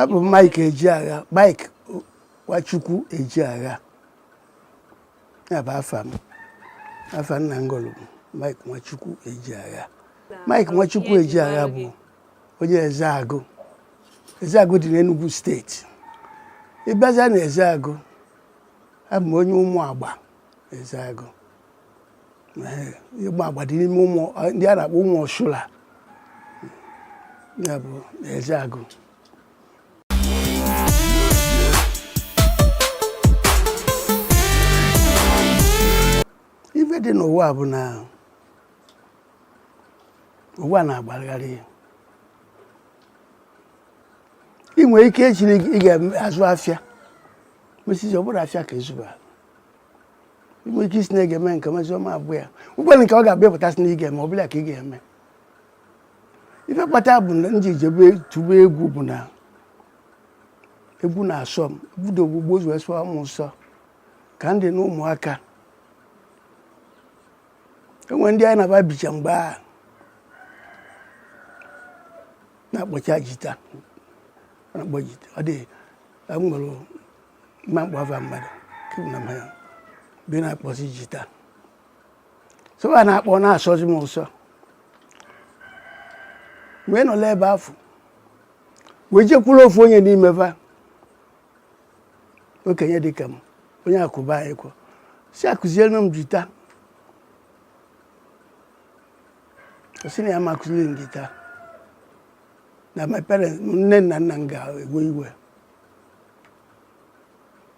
abụ m Mike Ejeagha Mike Nwachukwu Ejeagha ya bụ afa m afa nna m gụlụ bụ Mike Nwachukwu Ejeagha Mike Nwachukwu Ejeagha bụ onye Ezeagụ Ezeagụ dị n'Enugu steeti ị bịaza na Ezeagụ abụ m onye ụmụ agba Ezeagụ ụmụ agba dị n'ime ụmụ ndị a na-akpọ ụmụ ọchụla ya bụ Ezeagụ ife dị n'ụwa bụ na ụwa na-agbagharị ị nwere ike ịsị na ị ga-azụ afịa mesịzi ọ bụrọ afịa ka ị zụba nwere ike ịsị na ị ga-eme nke a mesịa ọ ma bụ ya o nwelu nke ọ ga-abịa pụtasị na ị ga-eme ọ bụlụ nke ị ga-eme ife kpata bụ na m ji jebe kụba egwu bụ na egwu na-asọ m bido o bugo ụzọ sọa m ụsọ ka m dị na ụmụaka o nwere ndị anyị na va bicha mgbe ahụ na-akpọcha jita na-akpọ jita ọ dị m nwere ma mkpọva mmadụ na m ya bi na-akpọzi jita so va na-akpọ ọ na-asọzi m ụsọ m wee nọla ebe afụ wee jekwuru ofu onye n'ime va okenye dịka m onye akụba anyị kwọ sị ya kuziere m jita ọ sị na ya ma akuziri m jita na my parents nne na nna m ga-ewe iwe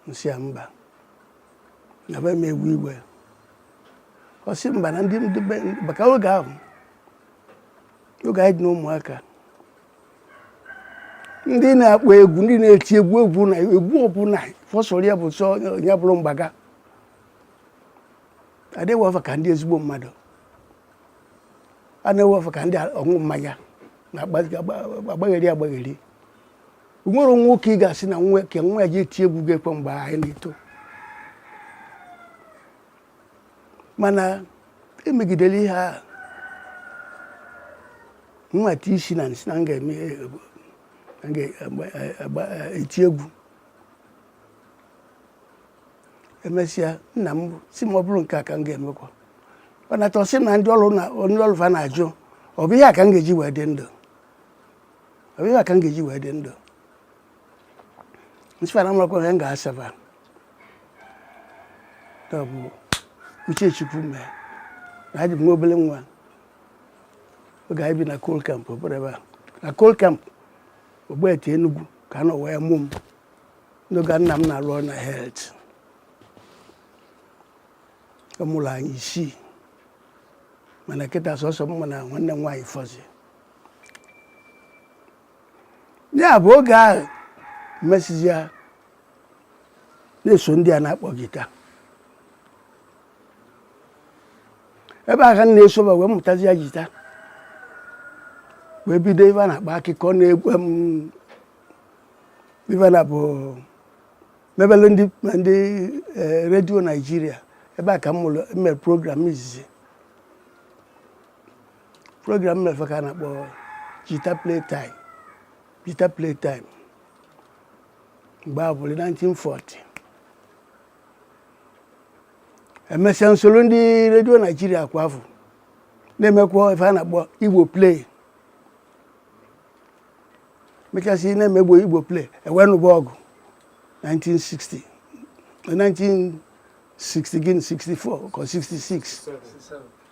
m sị ya mba na va ma ewe iwe ọ sị mba na ndị ndị be maka oge ahụ oge anyị dị na ụmụaka ndị na-akpọ egwu ndị na-eti egwu egwu na egwu ọbụla ọ sọrọ ya bụ sọ ya bụrụ mgbe ahụ adịghị ewe fa ka ndị ezigbo mmadụ a na-ewe fa ka ndị ọṅụ mmanya na-akpagharị akpagharị o nwerọ nwoke ị ga-asị na nwa ka nwa ya je tie egwu ọ ga-ekwe mgbe anyị na-eto mana emegidere ihe a nweta isi na m sị na m ga-eme eti egwu emesịa nna m sị m ọ bụrụ nke a ka m ga-emekwa ọ nata ọ sị m na ndị ọrụ na onye ọlụ fa na-ajụ ọ bụ ihe a ka m ga-eji wee dị ndụ ọ bụ ife a ka m ga-eji wee dị ndụ m sị fa na amarọkwa ife m ga-asa fa ọ bụ uche chukwu mee na adị m nwa obele nwa oge anyị bi na coal camp obere ebe a na coal camp Ogbete Enugu ka a nọ wee mụ m n'oge nna m na-arụ ọrụ na health ọ mụrụ anyị isii mana kịta sọsọ m na nwanne m nwaanyị fọzi ya bụ oge ahụ mesịzịa na-eso ndị a na-akpọ jita ebe a ka m na-esoba wee mụtazịa jita wee bido ife a na-akpọ akụkọ n'egwu m ife na bụ mebele ndị ma ndị eh, redio naijiria ebe a ka m mere program izizi program mefe ka a na-akpọ jita play time jita play time mgbe afụ bụ 1940 emesịa m solo ndị redio naijiria kwa afụ na-emekwa ife a na-akpọ igbo play mechasị na-eme bụ igbo play e wee nụba ọgụ 1960 1960 gịnị 64 or 66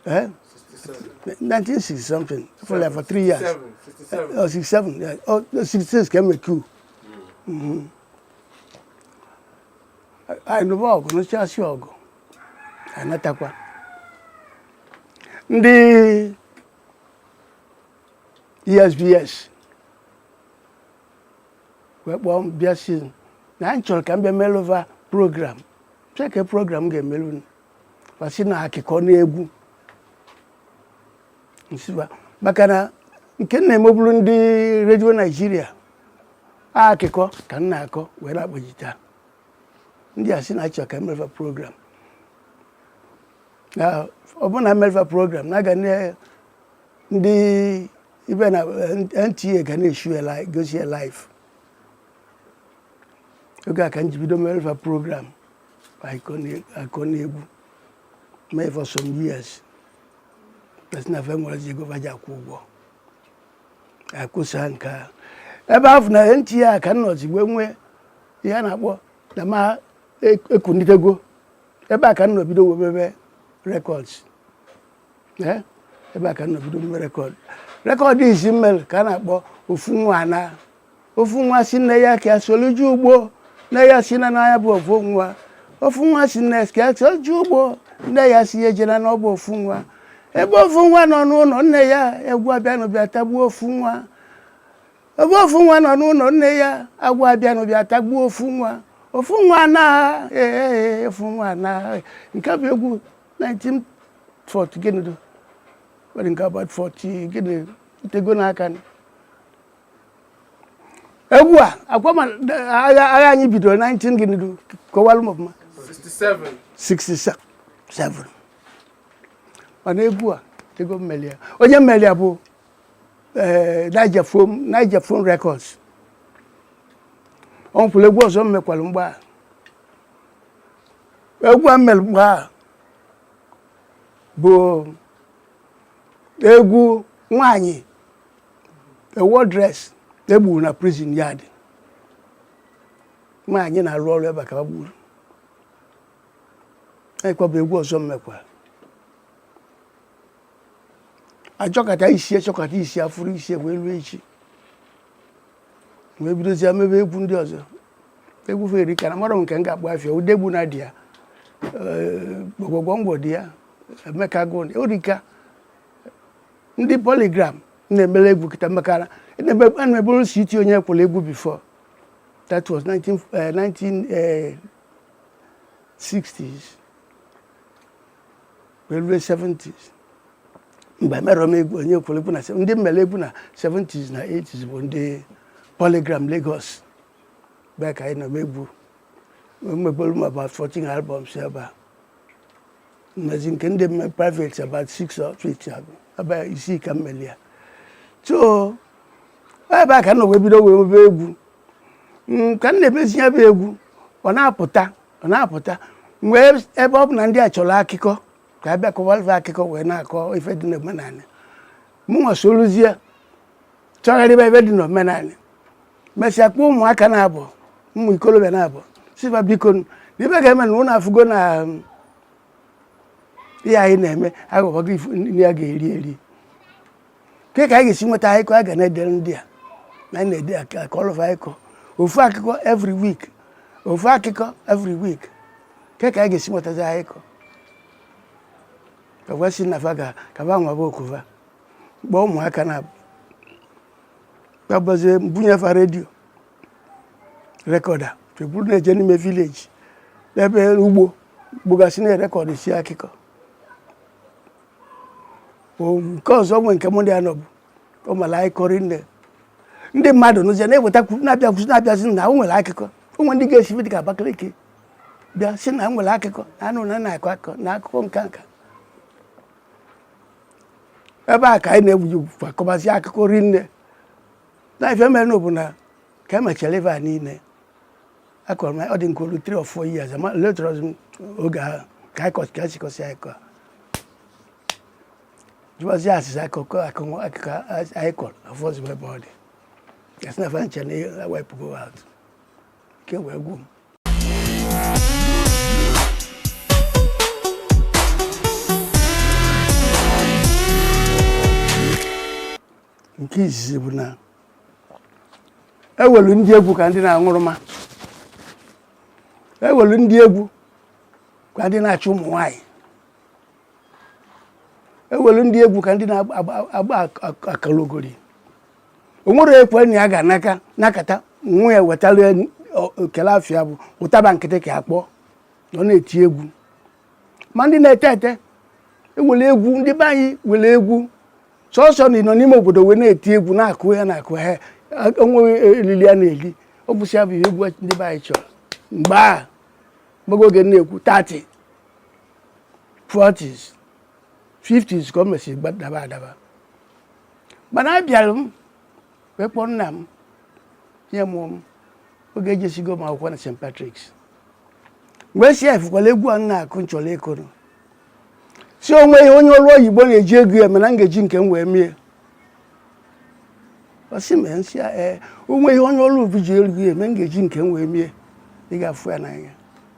Eh? 1960 something for like for three years. 67. Oh, 67. Yeah. Oh, no, 66 ka e me coup. Mm-hmm. anyị nụba ọgụ nụchasịa ọgụ a natakwa ndị esbs wee kpọọ m bịa sị m na anyị chọrọ ka m bịa melụ va program kee ke program m ga-emelụ va sị na akịkọ n'egwu m sị va maka na nke m na-emeburu ndị redio naijiria akịkọ ka m na-akọ wee na-akpọ jita ndị a sị na a chọ ka m melụ va program na ọ bụ na m melụ va program na aga na TV na NTA ga na-eshow gosi ya live oge a ka m ji bido melụ va program I couldn't, I couldn't able me for some years. That's not very much go back to I could sing car. Ebe afọ na ntị ya ka nọ zigbo nwee ihe a na-akpọ na ma ekunitego ebe a ka nọ bido webebe rekọds ebe a ka nọ bido webebe rekọd rekọd izi mmel ka a na-akpọ ofu nwa na ofu nwa si nne ya ka ya solu je ugbo nne ya si na n'anya bụ ofu nwa ofu nwa si nne ka ya solu je ugbo nne ya si ejena na ọ bụ ofu nwa ebe ofu nwa nọ n'ụlọ nne ya agwọ abịanụ bịa tagbuo ofu nwa ebe ofu nwa nọ n'ụlọ nne ya agwọ abịanụ bịa tagbuo ofu nwa ofu nwa anaa ee e, e, e, ofu nwa anaa nke a bụ egwu 1940 gịnị do nwere nke about 40 gịnị o tego n'aka egwu a ọ kwa ị ma agha anyị bidoro 19 gịnị du kọwalụ m ọfụma 67 67 mana egwu a etego m meli ya onye meli ya bụ eh, Niger Phone Niger Phone Records ọ nwekwara egwu ọzọ m mekwalụ mgbe a egwu a m mere mgbe a bụ egwu nwanyị a wardress egburu na prison yard nwanyị na-arụ ọrụ ebe a ka ha gburu ọ kwa bụ egwu ọzọ m mekwa achọkata isi achọkata isi afụrụ isi wee ruo echi wee bidozie mebe egwu ndị ọzọ egwu va erika na amarọ m nke m ga-akpọ afa ya Udegbunam dị ya gwogwogwo ngwo dị ya emeka egwu o rika ndị Polygram na-emele egwu kịta maka na m na-emebulu CT Onyekwelu egwu before that was 19, uh, 1960s wee lue 70s mgbe emerọ m egwu Onyekwelu egwu na ndị m mele egwu na 70s na 80s bụ ndị Polygram Lagos ebe a ka anyị nọ mee egwu emebulu m about 14 albums ebe a m mezie nke ndị m me private about six or eight ọ bụ ebe isii ka m meli ya so ebe a ka m nọ wee bido wee mebe egwu mm, ka m na-emezi ya bụ egwu ọ na-apụta ọ na-apụta wee ebe ọ bụ na ndị a chọrọ akụkọ ka a bịa kọwalụ va akụkọ wee na-akọ ife dị n'omenala mụnwa soluzie chọgharịba ife dị n'omenala mesịa kpọọ ụmụaka naabọ ụmụ ikolobịa naabọ sị va biko na ife a ga-eme na ụnụ afụgo na um, ihe anyị na-eme aghọbago ife nri a ga-eri eri ke ka anyị ga-esi nweta akụkọ a ga na-edere ndị a na anyị na-ede aka- akọlụ fa akụkọ ofu akụkọ every week ofu akụkọ every week ke ka anyị ga-esi nwetazi akụkọ fa asị na fa ga ka fa nwaba oko va kpọọ ụmụaka naabọ gbabazie m bunye fa redio rekọda e buru na-eje n'ime vileji ebe ugbo gbogasị na-erekọdụsị akụkọ nke ọzọ nwe nke mụ ndị anọ bụ o mara anyị kọrị nne ndị mmadụ n'ụzọ na-eweta na-abịa kwụsị na-abịazi na o nwere akụkọ o nwere ndị ga-esi dị ka Abakaliki bịa sị na enwere akụkọ na anụ na na-akọ akụkọ na akụkọ nka nka ebe a ka anyị na-egbuji akọbazi akụkọ rinne na ife mere na na ka emechara ife a niile akọrọ m ọ dị ka o lu 3 or 4 years ma later on oge ahụ ka anyị kọsị ka anyị sikọsị anyị kọ jụbazi asịsa akụkọ akụkọ anyị kọrọ afụzi ebe ọ dị a sị na fa ncha na ewepụgo atụ ike wee gwụ m nke izizi bụ na ewelu ndị egwu ka ndị na-aṅụrụma ewelu ndị egwu ka ndị na-achụ ụmụ nwaanyị ewere ndị egwu ka ndị na-agba akalogori o nwere onye kwe na ya ga-anọka nọkata nwa ya wetara okele afịa bụ ụtaba nkịtị ka a kpọ na ọ na-eti egwu ma ndị na-ete ete ewere egwu ndị be anyị were egwu sọsọ na ịnọ n'ime obodo wee na-eti egwu na-akụ ya na-akụ ha onweghị elili a na-eli ọ bụ sọ ya bụ ihe egwu ndị be anyị chọrọ mgbe a mgbe oge m na-ekwu 30 40s 50s ka o mesịrị gbadaba adaba mana abịara m wee kpọọ nna m onye mụrụ m oge ejesigo m akwụkwọ na St. Patrick's wee sị ya ị fụkwala egwu a m na-akụ m chọrọ ịkụrụ sị o nwee ihe onye ọrụ oyibo na-eji ego ya eme na m ga-eji nke m wee mee ya ọ sị m ee m sị ya ee o nwee ihe onye ọrụ oyibo ji ego ya eme m ga-eji nke m wee mee ya ị ga-afụ ya n'anya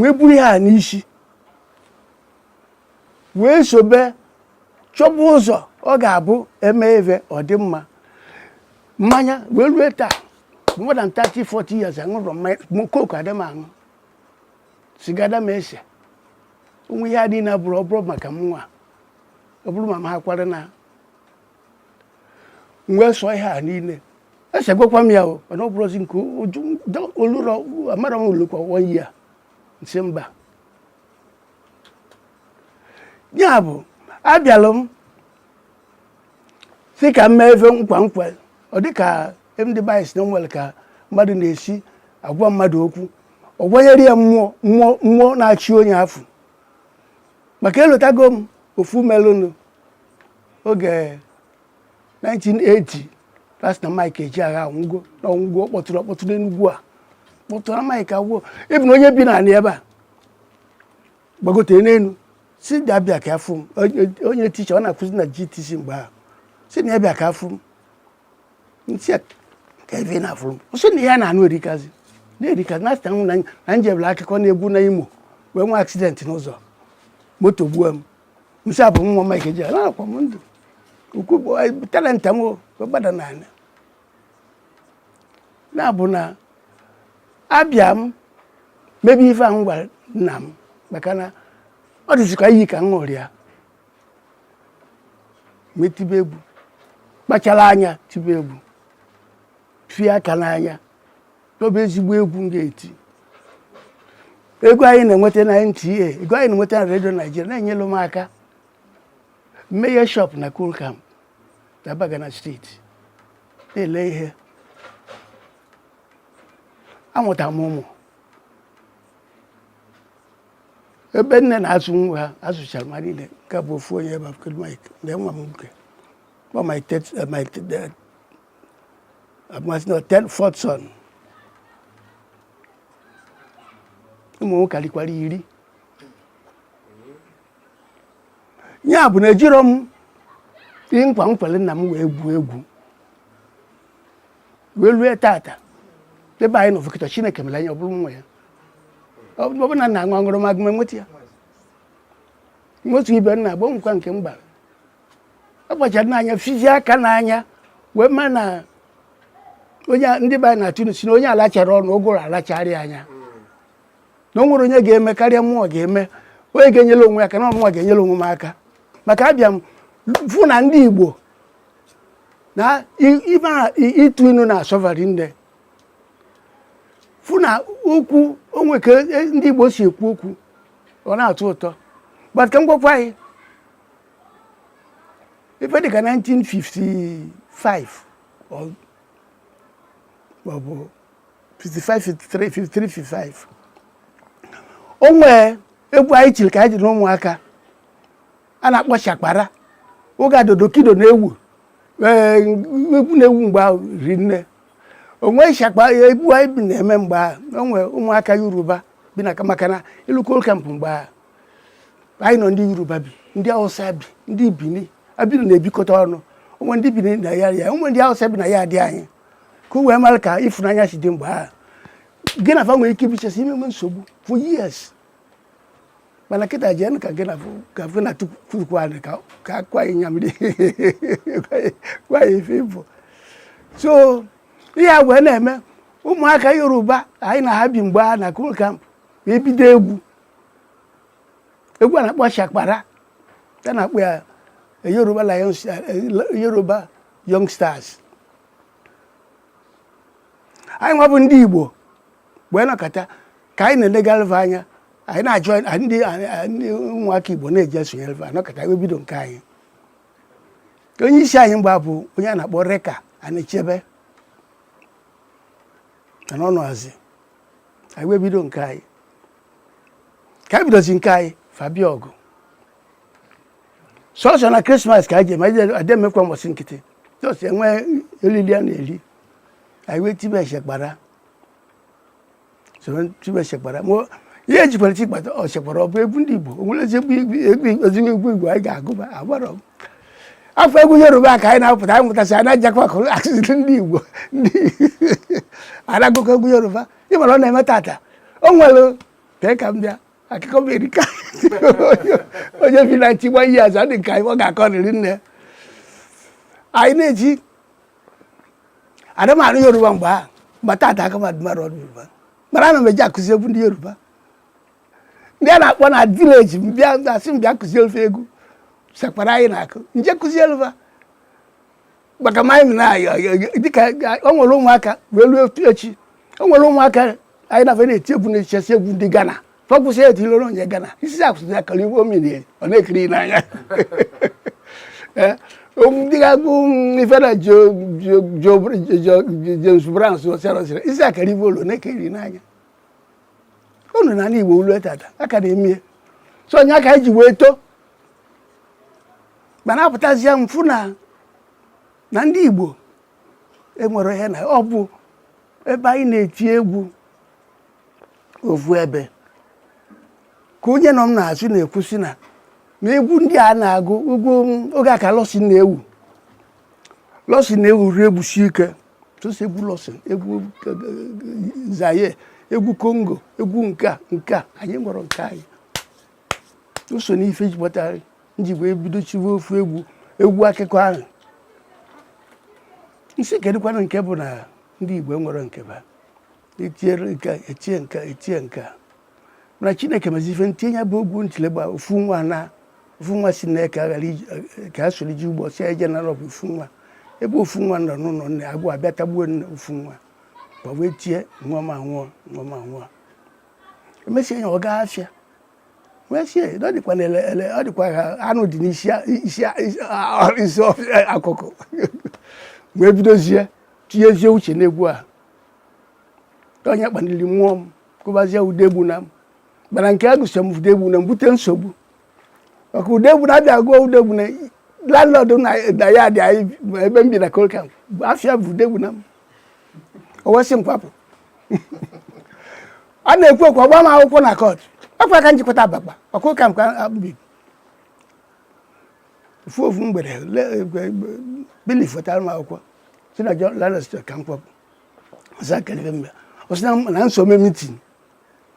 wee buru ya n'isi wee sobe chọba ụzọ ọ ga-abụ eme ebe ọ dị mma mmanya wee rue taa more than 30 40 years aṅụrọ m mmanya Coke adị m aṅụ siga ada m ese o nwe ihe adị na bụrụ ọ bụrọ maka mụnwa ọ bụrụ ma m ha kwara na m wee sọọ ihe a niile esegokwa m ya o mana ọ bụrụzi nke o lurọ amarọ m o lukwa one year m sị mba ya bụ abịalụ m sị ka m mee ife nkwa nkwa ọ dị ka ndị be anyị sị na enwere ka mmadụ na-esi agwa mmadụ okwu ọ gwanyere ya mmụọ mmụọ mmụọ na-achị onye afọ maka elotago m ofu melụnụ oge 1980 a sị na Mike Ejeagha anwụgo na ọ nwụgo ọ kpọtụrụ ọkpọtụ n'Enugwu a kpọtụrụ Mike anwụgo ịbụ na onye bi n'ala ebe a gbagote n'elu sị ya abịa ka afụ m onye- onye ticha ọ na-akụzi na GTC mgbe ahụ sị na ya bịa ka afụ m m sị ya ka ebe ị na-afụrụ m ọ sị na ya na-anụ erikazi na-erikazi na-asịta m na na njebere akụkọ n'egwu na Imo wee nwee aksidenti n'ụzọ moto gbuo m m sị ya ọ bụ mụnwa Mike Ejeagha anọkwa m ndụ ukwu bụ talenta m gbada n'ala na-abụ na abịa m mebe ife ahụ m gwara nna m maka na ọ dịzi ka iyi ka m ṅụrụ ya m etibe egwu kpachara anya tibe egwu fie aka n'anya nyobe ezigbo egwu m ga-eti ego anyị na-enweta na NTA ego anyị na-enweta na redio Naijiria na-enyelụ m aka m meghe shop na Coal Camp n'Abagana Street na-ele ihe amụta m ụmụ ebe nne na-azụ nwa ha azụchara m ha niile nke bụ ofu onye ebe kedụ Mike na nwa m nwoke kpọ my abụ m asị na third fourth son ụmụ m karịkwara iri ya bụ na ejiro m ihe nkwa m kwere nna m wee gwuo egwu wee rue tata ebe anyị nọvụ kịta Chineke mere anyị ọ bụrụ nwa ya ọ bụ ọ bụ na nna aṅụ aṅụrụ m agụm enweta ya nwetu ibe nna agbanwekwa nke m gbara akpachara m anya fizie aka n'anya wee ma na onye ndị be anyị na-atụ inu sị na onye alacharọ ọnụ ụgụrụ alacharịa ya na o nwerọ onye ga-eme karịa mụwa ga-eme onye ga-enyere onwe aka na ọ mụnwa ga-enyere onwe m aka maka abịa m fụ na ndị Igbo na ịtụ inu na-asọ va rinne fụ na okwu o nwe ka e, ndị Igbo si ekwu okwu ọ na-atọ ụtọ but ka m gwakwa gị ife dịka 1955 maọbụ 55 53 55 o nwee egwu anyị chiri ka anyị ji na ụmụaka a na-akpọ shakpara oge adodokido na-ewu ee egwu na-ewu mgbe ahụ rinne o nwe shakpa egwu anyị bi na-eme mgbe ahụ o nwee ụmụaka Yoruba bi na maka na i lue Coal Camp mgbe ahụ anyị nọ ndị yoruba bi ndị awụsa bi ndị bini abinu na-ebikọta ọnụ o nwe ndị bini na ya ya o nwe ndị awụsa bi na ya adị anyị ka o wee mara ka ịfụnanya si dị mgbe ahụ gị na fa nwere ike ibichasị enwe nsogbu for years mana kịta jee ka gị na ka gị na tupu anyị ka ka akwa anyị nyamiri kwa anyị ife ịbụ so ihe a wee na-eme ụmụaka yoruba anyị na ha bi mgbe ahụ na coal camp ebido egwu egwu a na-akpọ shakpara a na-akpọ ya eh, yoruba lions eh, eh, yoruba young stars anyị nwa bụ ndị igbo wee nọkọta ka anyị na-elegalụ va anya anyị nwa bụ ndị ụmụaka igbo na-eje esonyere va nọkọta wee bido nke anyị onye isi anyị mgbe ahụ bụ onye a na-akpọ reka anachebe na n'ọnụ azị anyị wee bido nke anyị ka anyị bidozi nke anyị fa bịa ọgụ sọsọ na krismas ka anyị ji eme anyị adị emekwa mbọsị nkịtị just e nwee oriri a na-eri anyị wee tibe shakpara soro tibe shakpara ma ihe ejikwara ti gbata shakpara ọ bụ egwu ndị igbo o nwerọ ezigbo ezigbo egwu igbo anyị ga-agụba agbara ọgụ afọ egwu yoruba ka anyị na-apụta anyị mụtasị anyị na-ejekwa akụziri ndị igbo ndị a na-agụkọ egwu yoruba ị mara ọ na-eme tata o nwere tee ka m bịa akụkọ m erika onye bi na nchigba ihe azụ dị nke anyị ọ ga-akọrịrị na anyị na-eji adamarụ yoruba mgbe ahụ mgbe tata ka mmadụ mara ọrụ yoruba mara ana m eji akụzi egwu ndị yoruba ndị a na-akpọ na village m bịa a sị m bịa kụziere fa egwu shakpara anyị na-akụ m jee kụziere maka ma anyị dịka o nwere ụmụaka wee ruo otu echi o nwere ụmụaka anyị na-afe na-eti egwu na-etisi egwu ndị Ghana fọkwụsị ya etilere onye Ghana isi akwụsị ya kara iwe omiri ọ na-ekiri n'anya eh, ndị ga-agụ ife na James Brown sịrị isi akara iwe olu na-ekiri n'anya unu na ala Igbo lue tata a ka na-eme ya so ọ ya ka anyị ji wee too mana apụtazie m fụ na na ndị Igbo enwerọ ihe na ọ bụ ebe anyị na-eti egwu ofu ebe ka onye nọ m n'azụ na-ekwu sị na na egwu ndị a na-agụ egwu oge a ka lọsi na-ewu lọsi na-ewu rie ewusi ike sọsọ egwu lọsi egwu Zaire egwu Congo egwu nke a nke a anyị enwerọ nke anyị o so n'ife ji kpọtara nji wee bido tiwe ofu egwu egwu akụkọ ahụ m sị kedụkwanụ nke bụ na ndị Igbo nwere nke ba etiere nke etie nke etie nke mana Chineke mezi ife ntinye ya bụ egwu ntilegba ofu nwa na ofu nwa si na ka aghara ka a soro ji ụgbọ si eje n'ọrụ bụ ofu nwa ebe ofu nwa nọ n'ụlọ nne agụ abịa tagbuo nne ofu nwa ma wee tie nwa m anwụọ nwa m anwụọ emesịa ya ọ gaa afịa ọ dịkwa ha anụ dị n'isi akụkọ wee bidozie tinyezie uche n'egwu a onye kpaliri mmụọ m kụbazie Udegbunam mana nke a gụsịrị m Udegbunam bute nsogbu maka Udegbunam bịa gụọ Udegbunam landlord na ya dị anyị ebe m bi na Coal Camp afa ya bụ Udegbunam o wee sị m kwapụ a na-ekwu ekwu ọ gbaa m akwụkwọ na court ọkwa ka m ji kwata Abakpa ọ Coal Camp ka m bibu ofu ofu mgbede bailiff wetara m akwụkwọ sị na landlord sị ka m kwapụ ọsị akalibe mgbe ọ sị na m esoro eme meeting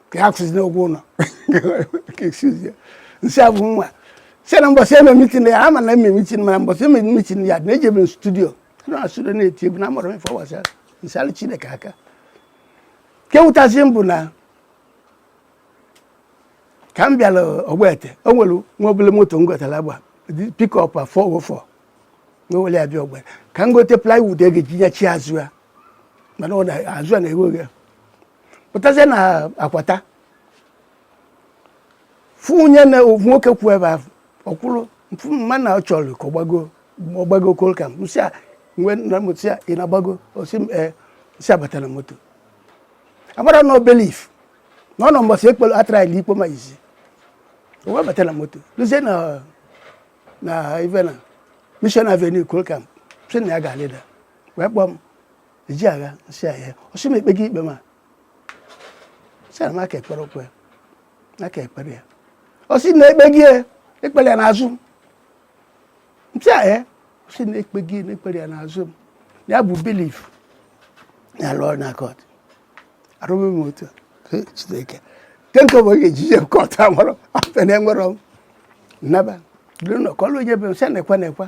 ka ya kwụsịzi n'ụgwọ ụlọ m sị a bụ nwa sị na mbọsị eme meeting ya ama na eme meeting mana mbọsị eme meeting ya na ejebe m studio na studio na-eti egwu na amarọ m ife ọ gbasa m sị Chineke aka nke wụtazi m bụ na ka m bịara Ogbete o nwere nwa obele moto m gotara agba pickup 404 na owere ya bịa Ogbete ka m gote plywood e ga-eji nyachi azụ ya maka na azụ ya na-eghe oghe pụtazie na Akwata fụ onye na nwoke kwụ ebe ahụ ọ kwụrụ m fụ ma na ọ chọrọ ka ọ gbago ọ gbago Coal Camp sị a mgbe na m sị a ị na-agbago ọ sị m ee sị a bata na moto amarọ na ọ bailiff na ọ nọ mbọsị ekpelo a try-li ikpe m izizi o wee bata na moto luzie na na ive na Mission Avenue Coal Camp sị na ya ga-alịda wee kpọọ m Ejeagha m sị a hịa ọ sị m e kpe gị ikpe m sị na a ka ekperọkwa a ka ekperọ ya ọ sị na ikpe gị e kpere ya n'azụ m sị a hịa ọ sị na ikpe gị na e kpere ya n'azụ m ya bụ bailiff na-alụ ọrụ na court arụghị m otu Chineke nke nke bụ oge e ji je court amụrụ afọ na enwerọ m naba dịrị na ọ kọlụ onye be m sị nekwa nekwa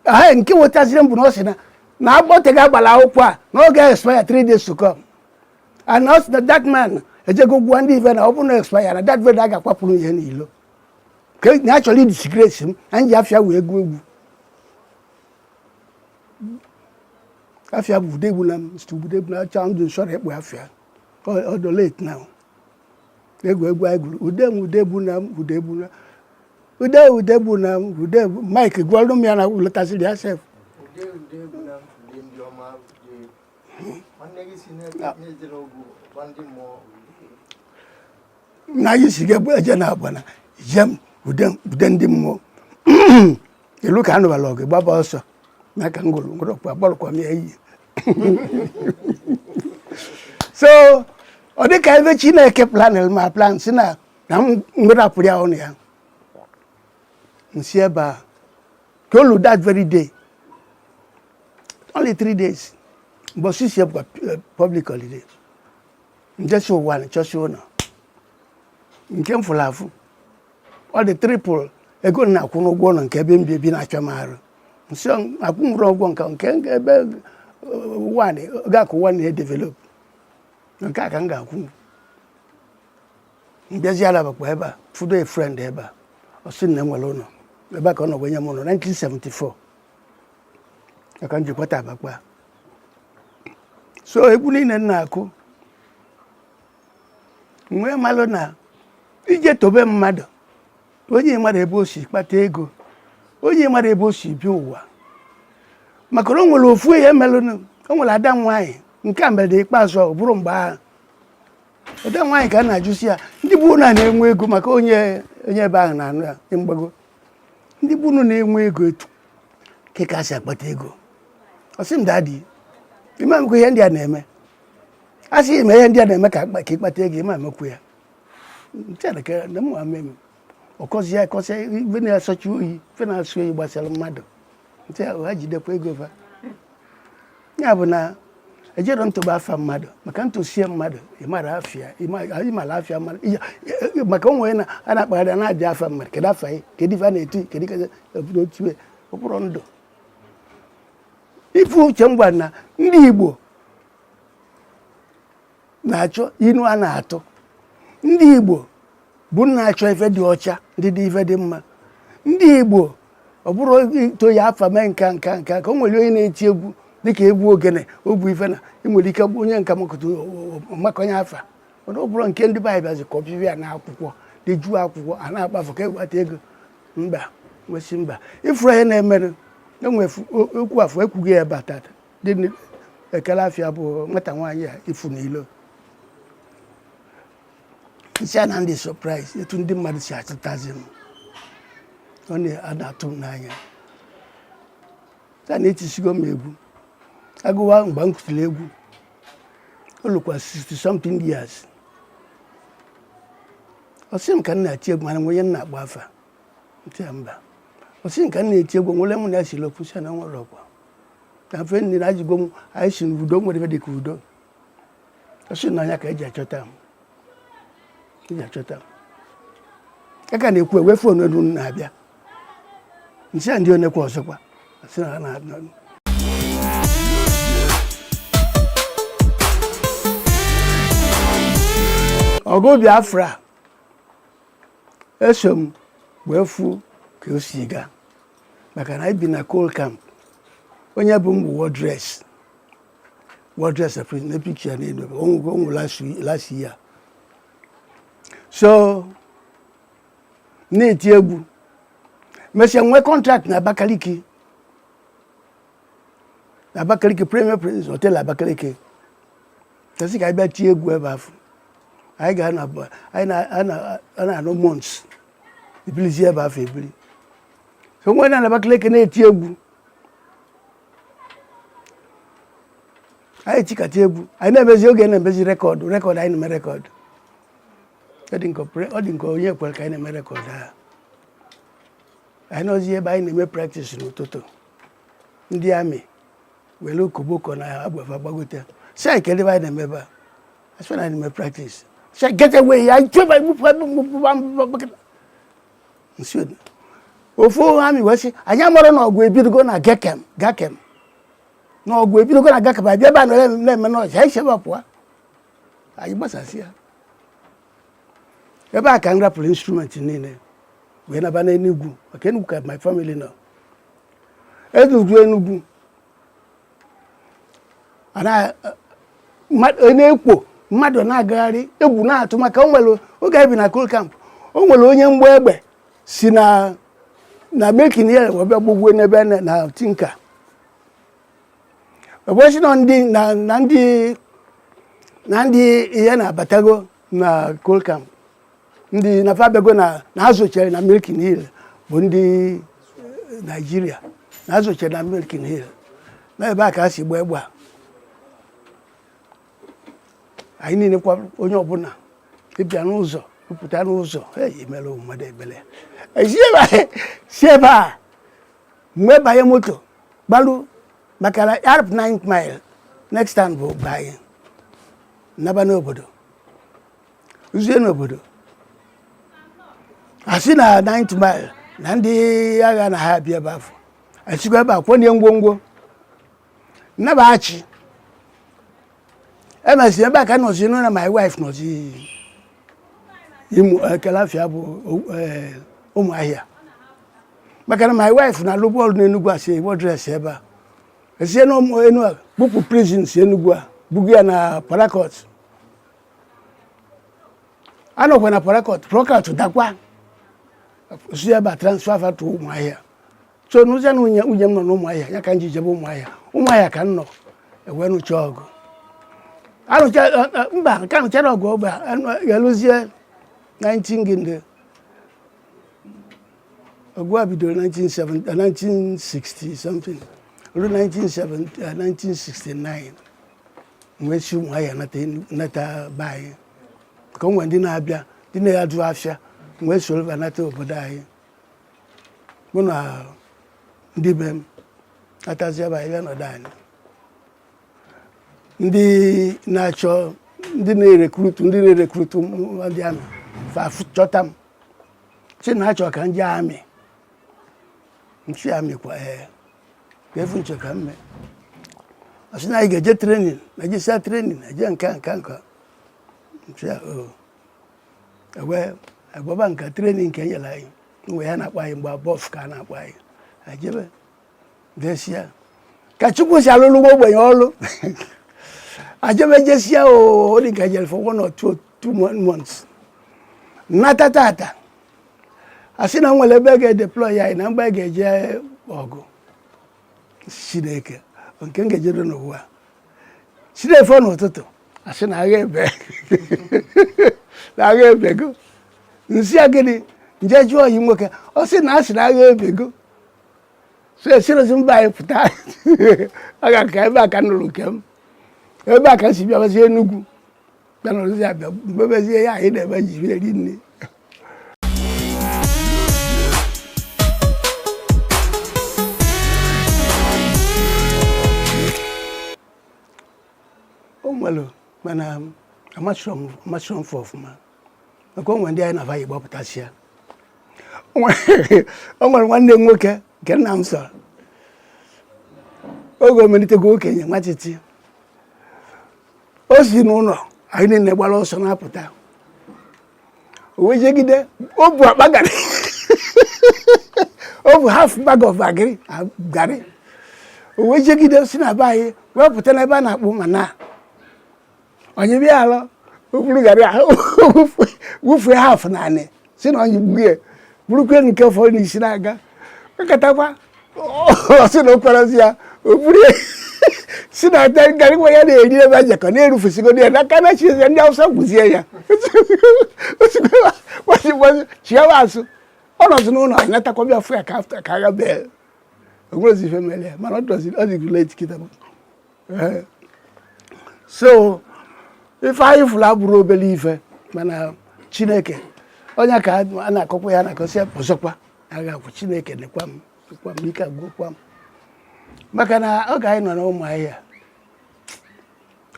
ha nke wụtaziri m bụ na ọ sị na na agboteghị agbara akwụkwọ a na ọ ga-expire 3 days to come and ọ sị na that man ejego gwa ndị ife na ọ bụrụ na expire na that very day a ga-akwapụrụ ihe n'ilo ka na a chọrọ idisgrace m na m ji afa ya wee gụọ egwu afa ya bụ Udegbunam ST Udegbunam achọ ndụ nsọrọ ikpọ afa ya although late now egwuregwu anyị gwuru ude m ude egbuna m ude egbuna ude ude egbuna m ude bụ Mike gwọrụ m ya na ọ lụtasịrị ya sef na anyị si ga-eje na agbana jem ude ude ndị mmụọ e lu ka a nụbalụ ọgụ gbaba ọsọ na ka ngwụrụ ngwụrụ ọkwa gbalụkwa m ya iyi so ọ dịka ebe chineke planel ma plan si na na m mmerapụrụ ya ụnọ ya m si ebe a ka o lu that very day only three days mbọsi si ebụkwa eh, public holiday m jesi Uwani chọsi ụnọ nke m fụlụ afụ ọ dị triple ego m na-akwụ n'ụgwọ ụlọ nke ebe m bi ebi na-achọ m arụ so akwụnworo ụgwọ nke nke ebe ụwa ga-akwụ Uwani edevelop nke a ka m ga-akwụ m bịazịa na Abakpa ebe a fụdo a friend ebe a ọ sị na enwere ụlọ ebe a ka ọ nọ wee nye m ụlọ 1974 ka m ji kwata Abakpa so egwu niile m na-akụ nwee malụ na ị je tobe mmadụ onye mara ebe o si kpata ego onye mara ebe o si bi ụwa maka na o nwere ofu ihe melụnụ o nwere ada nwaanyị nke a mere ikpeazụ ọ bụrụ mgbe ahụ ada nwaanyị ka a na-ajụsi ya ndị bụ na na-enwe ego maka onye onye ebe ahụ na-anụ ya dị mgbago ndị bụ unu na-enwe ego etu ka ka si akpata ego ọ sị m daddy ị ma-emekwa ihe ndị a na-eme a sị ị mee ihe ndị a na-eme ka ka ị kpata ego ị ma-emekwu ya m chere na mma meme ọ kọsịa akọsị ife na-asọchi oyi ife na-asọ oyi gbasara mmadụ nte ha jidekwa ego fa ya bụ na ejerọ m toba afa mmadụ maka m tosie mmadụ ị mara afa ya ị mara afa mmadụ maka ụmụ na a na-akpagharị na-adị afa mmadụ kedu afa ya kedu ife a na-eti kedu otu okpụrụ ndụ ife uche m gwara na ndị Igbo na-achọ inu a na-atụ ndị Igbo bụ na-achọ ife dị ọcha ndị dị ife dị mma ndị Igbo ọ bụrụ i to ya afa mee nka nka nka ka o nwere onye na-eti egwu dịka egwu ogene ọ bụ ife na ị nwere ike bụ onye nka makọta makọnye afa mana ọ bụrụ nke ndị ga-abịazi kọpịa na akwụkwọ dejuo akwụkwọ a na-akpafu ka e nweta ego mba nwesị mba ifuru ihe na-emere enwe okwu afọ ekwughị ya batata dị ekele afịa bụ nwata nwaanyị a ifu n'ilo sị ya na m dị surprise etu ndị mmadụ si achọtazi m ọ na-atụ m n'anya a na-etisigo m egwu agụwa mgbe m kụtiri egwu o lukwa 60 something years ọ sị m ka m na-eti egwu ma o nwe onye m na-akpọ afa m sị ya mba ọ sị m ka m na-eti egwu nwere mụ na ya seere okwu sị ya na o nwerọ ọkwa na mfe nne na ajụgo m anyị si n'udo o nwerọ ife dị ka udo ọ sị na anya ka eji achọta m eji achọta m ya ka na-ekwu ewe phone elu m na-abịa m sị ya ndị onekwa ọzọkwa sị na ha na ọgụ biafra eso m wee fụ ka o si gaa maka na ebi na coal camp onye bụ mbụ war dress war dress na picture ya n'elu ọ nwụ last year so na-eti egwu mesịa nwee contract na Abakaliki na Abakaliki Premier Prince Hotel Abakaliki fa sị ka anyị bịa tie egwu ebe afụ anyị ga na-anọ months ebilizi ebe afụ ebili so wee nọ na Abakaliki na-eti egwu anyị tikata egwu anyị na-emezi oge na-emezi record record anyị na-eme record ọ dị nke onye kwere ka anyị na-eme record a anyị nọzi ebe anyị na-eme practice n'ụtụtụ ndị army were koboko na egbe fa gbagote sị anyị kedụ ife anyị na-eme ebe a asị na anyị na-eme practice sị anyị get away anyị chọba nsi ofu army wee sị anyị amarọ na ọgụ ebidogo na Gakem Gakem na ọgụ ebidogo na Gakem abịa ebe a na-eme noise anyị si ebe a pụọ anyị gbasasịa ebe a ka m rapụrụ instrument niile wee naba n'enugwu maka enugwu ka my family nọ enugwu enugwu na-ekwo mmadụ na-agagharị egwu na-atụ maka o nwere oge anyị bi na coal camp o nwere onye mgba egbe si na Milliken Hill wee bịa gbogwe n'ebe na Tinker ebe a sị na ndị na na ndị na ndị ihe na-abatago na Coal Camp ndị na fa abịago na na ha zochere na Milliken Hill bụ ndị Nigeria na ha zochere na Milliken Hill na ebe a ka a si gba egbe a anyị niile kwa onye ọbụla ị bịa n'ụzọ ị pụta n'ụzọ ị ya-emere mmadụ ebele si ebe a mgbe banye moto gbaru maka na e rube 9 mile next time bụ be anyị naba n'obodo ruzie n'obodo a sị na 9 mile na ndị agha na ha abịa ebe afụ esikwa ebe a kwọnye ngwongwo naba Achị emesịa ebe a ka m nọzi nụ na my wife nọzi kedu afa ya bụ eh, Ụmụahịa maka na my wife na-alụbu ọlụ n'Enugwu as a wardress ebe a e si na Ụmụ- Enu- a bupụ prison si Enugwu a buga ya na Port Harcourt anọkwa na Port Harcourt Port Harcourt dakwa si ebe a transfer fa to Ụmụahịa so nụzịa na nwunye nwunye m nọ n'ụmụahịa ya ka m ji jebe ụmụahịa ụmụahịa ka m nọ e wee nụcha ọgụ anụcha eh, eh, mba nke anụcharọ ọgụ ọgụ a ga-eluzie 19 gịnị ọgụ a bidoro 1970 1960 eh, something ruo 1970 eh, 1969 m wee si ụmụahịa nata Enu- nata be anyị ka o nwere ndị na-abịa ndị na-azụ afịa m wee soro fa nata obodo anyị mụ na ndị be m natazịa be anyị bịa nọdụ anyị ndị na-achọ ndị na-erekrutu ndị na-erekrutu m- ndị amị fa fụ- chọta m sị na achọ ka m jee amị m sị ya amị kwa ee kee ife unu chọ ka m mee a sị na anyị ga-eje training na ejesịa training eje nka nka nka m sị ya o agbaba nka training nke enyere anyị ihe a na-akpọ anyị mgbe a BOFF ka a na-akpọ anyị ejebe jesịa ka Chukwu si alụlụ nwa ogbenye ọlụ ejebe jesịa ọ dị ka jere for one or two two months nata tata a sị na e nwere ebe a ga-edeploy anyị na mgbe a ga-eje ọgụ Chineke nke m ga-ejere n'ụwa chi na-efo n'ụtụtụ a sị na agha ebe na agha ebego m sị ya gịnị m jee jụọ ọyị m nwoke ọ sị na a sị na agha ebego so esirozi m be anyị pụta agha ka ebe a ka m nụrụ nke m ebe a ka m si bịabazi Enugu bịa nọrọzie a bịa mebezie ya anyị na-eme ji bịa eri nri o nwere mana amacharọ m amacharọ m fa ọfụma maka o nwere ndị anyị na fa yi gbapụtasịa o nwere o nwere nwanne m nwoke nke nna m soro oge o melitego okenye nwantịntị o si n'ụlọ anyị niile gbara ọsọ na-apụta o wee jegide o bu akpa garị o bu half bag of agric garị o wee jegide si na be anyị wee pụta n'ebe a na-akpọ mana ọ nyịbe ya alọ o buru garị ahụ wụfue half n'anị sị na ọ nyịgbuo ya burukwe nke fọrọ n'isi na-aga gakatakwa ọ sị na o kwerọzi ya oburu si na ata garị nwa ya na-eri ebe a jakọ na-erufusigo ya n'aka na chi ya ndị Awụsa gbuzie ya chiawa azụ ọ nọzi n'ụlọ anyị natakwa bịa fụ ya ka agha bee o nwerọzi ife mere ya mana ọ dọzi ọ dịgo late kịta eh, so ife anyị fụrụ abụrọ obere ife mana Chineke onye ka a na-akọkwa ya na-akọsị ọzọkwa agha akwụ Chineke nekwa m kwa m ike agwụkwa m maka na oge anyị nọ n'Ụmụahịa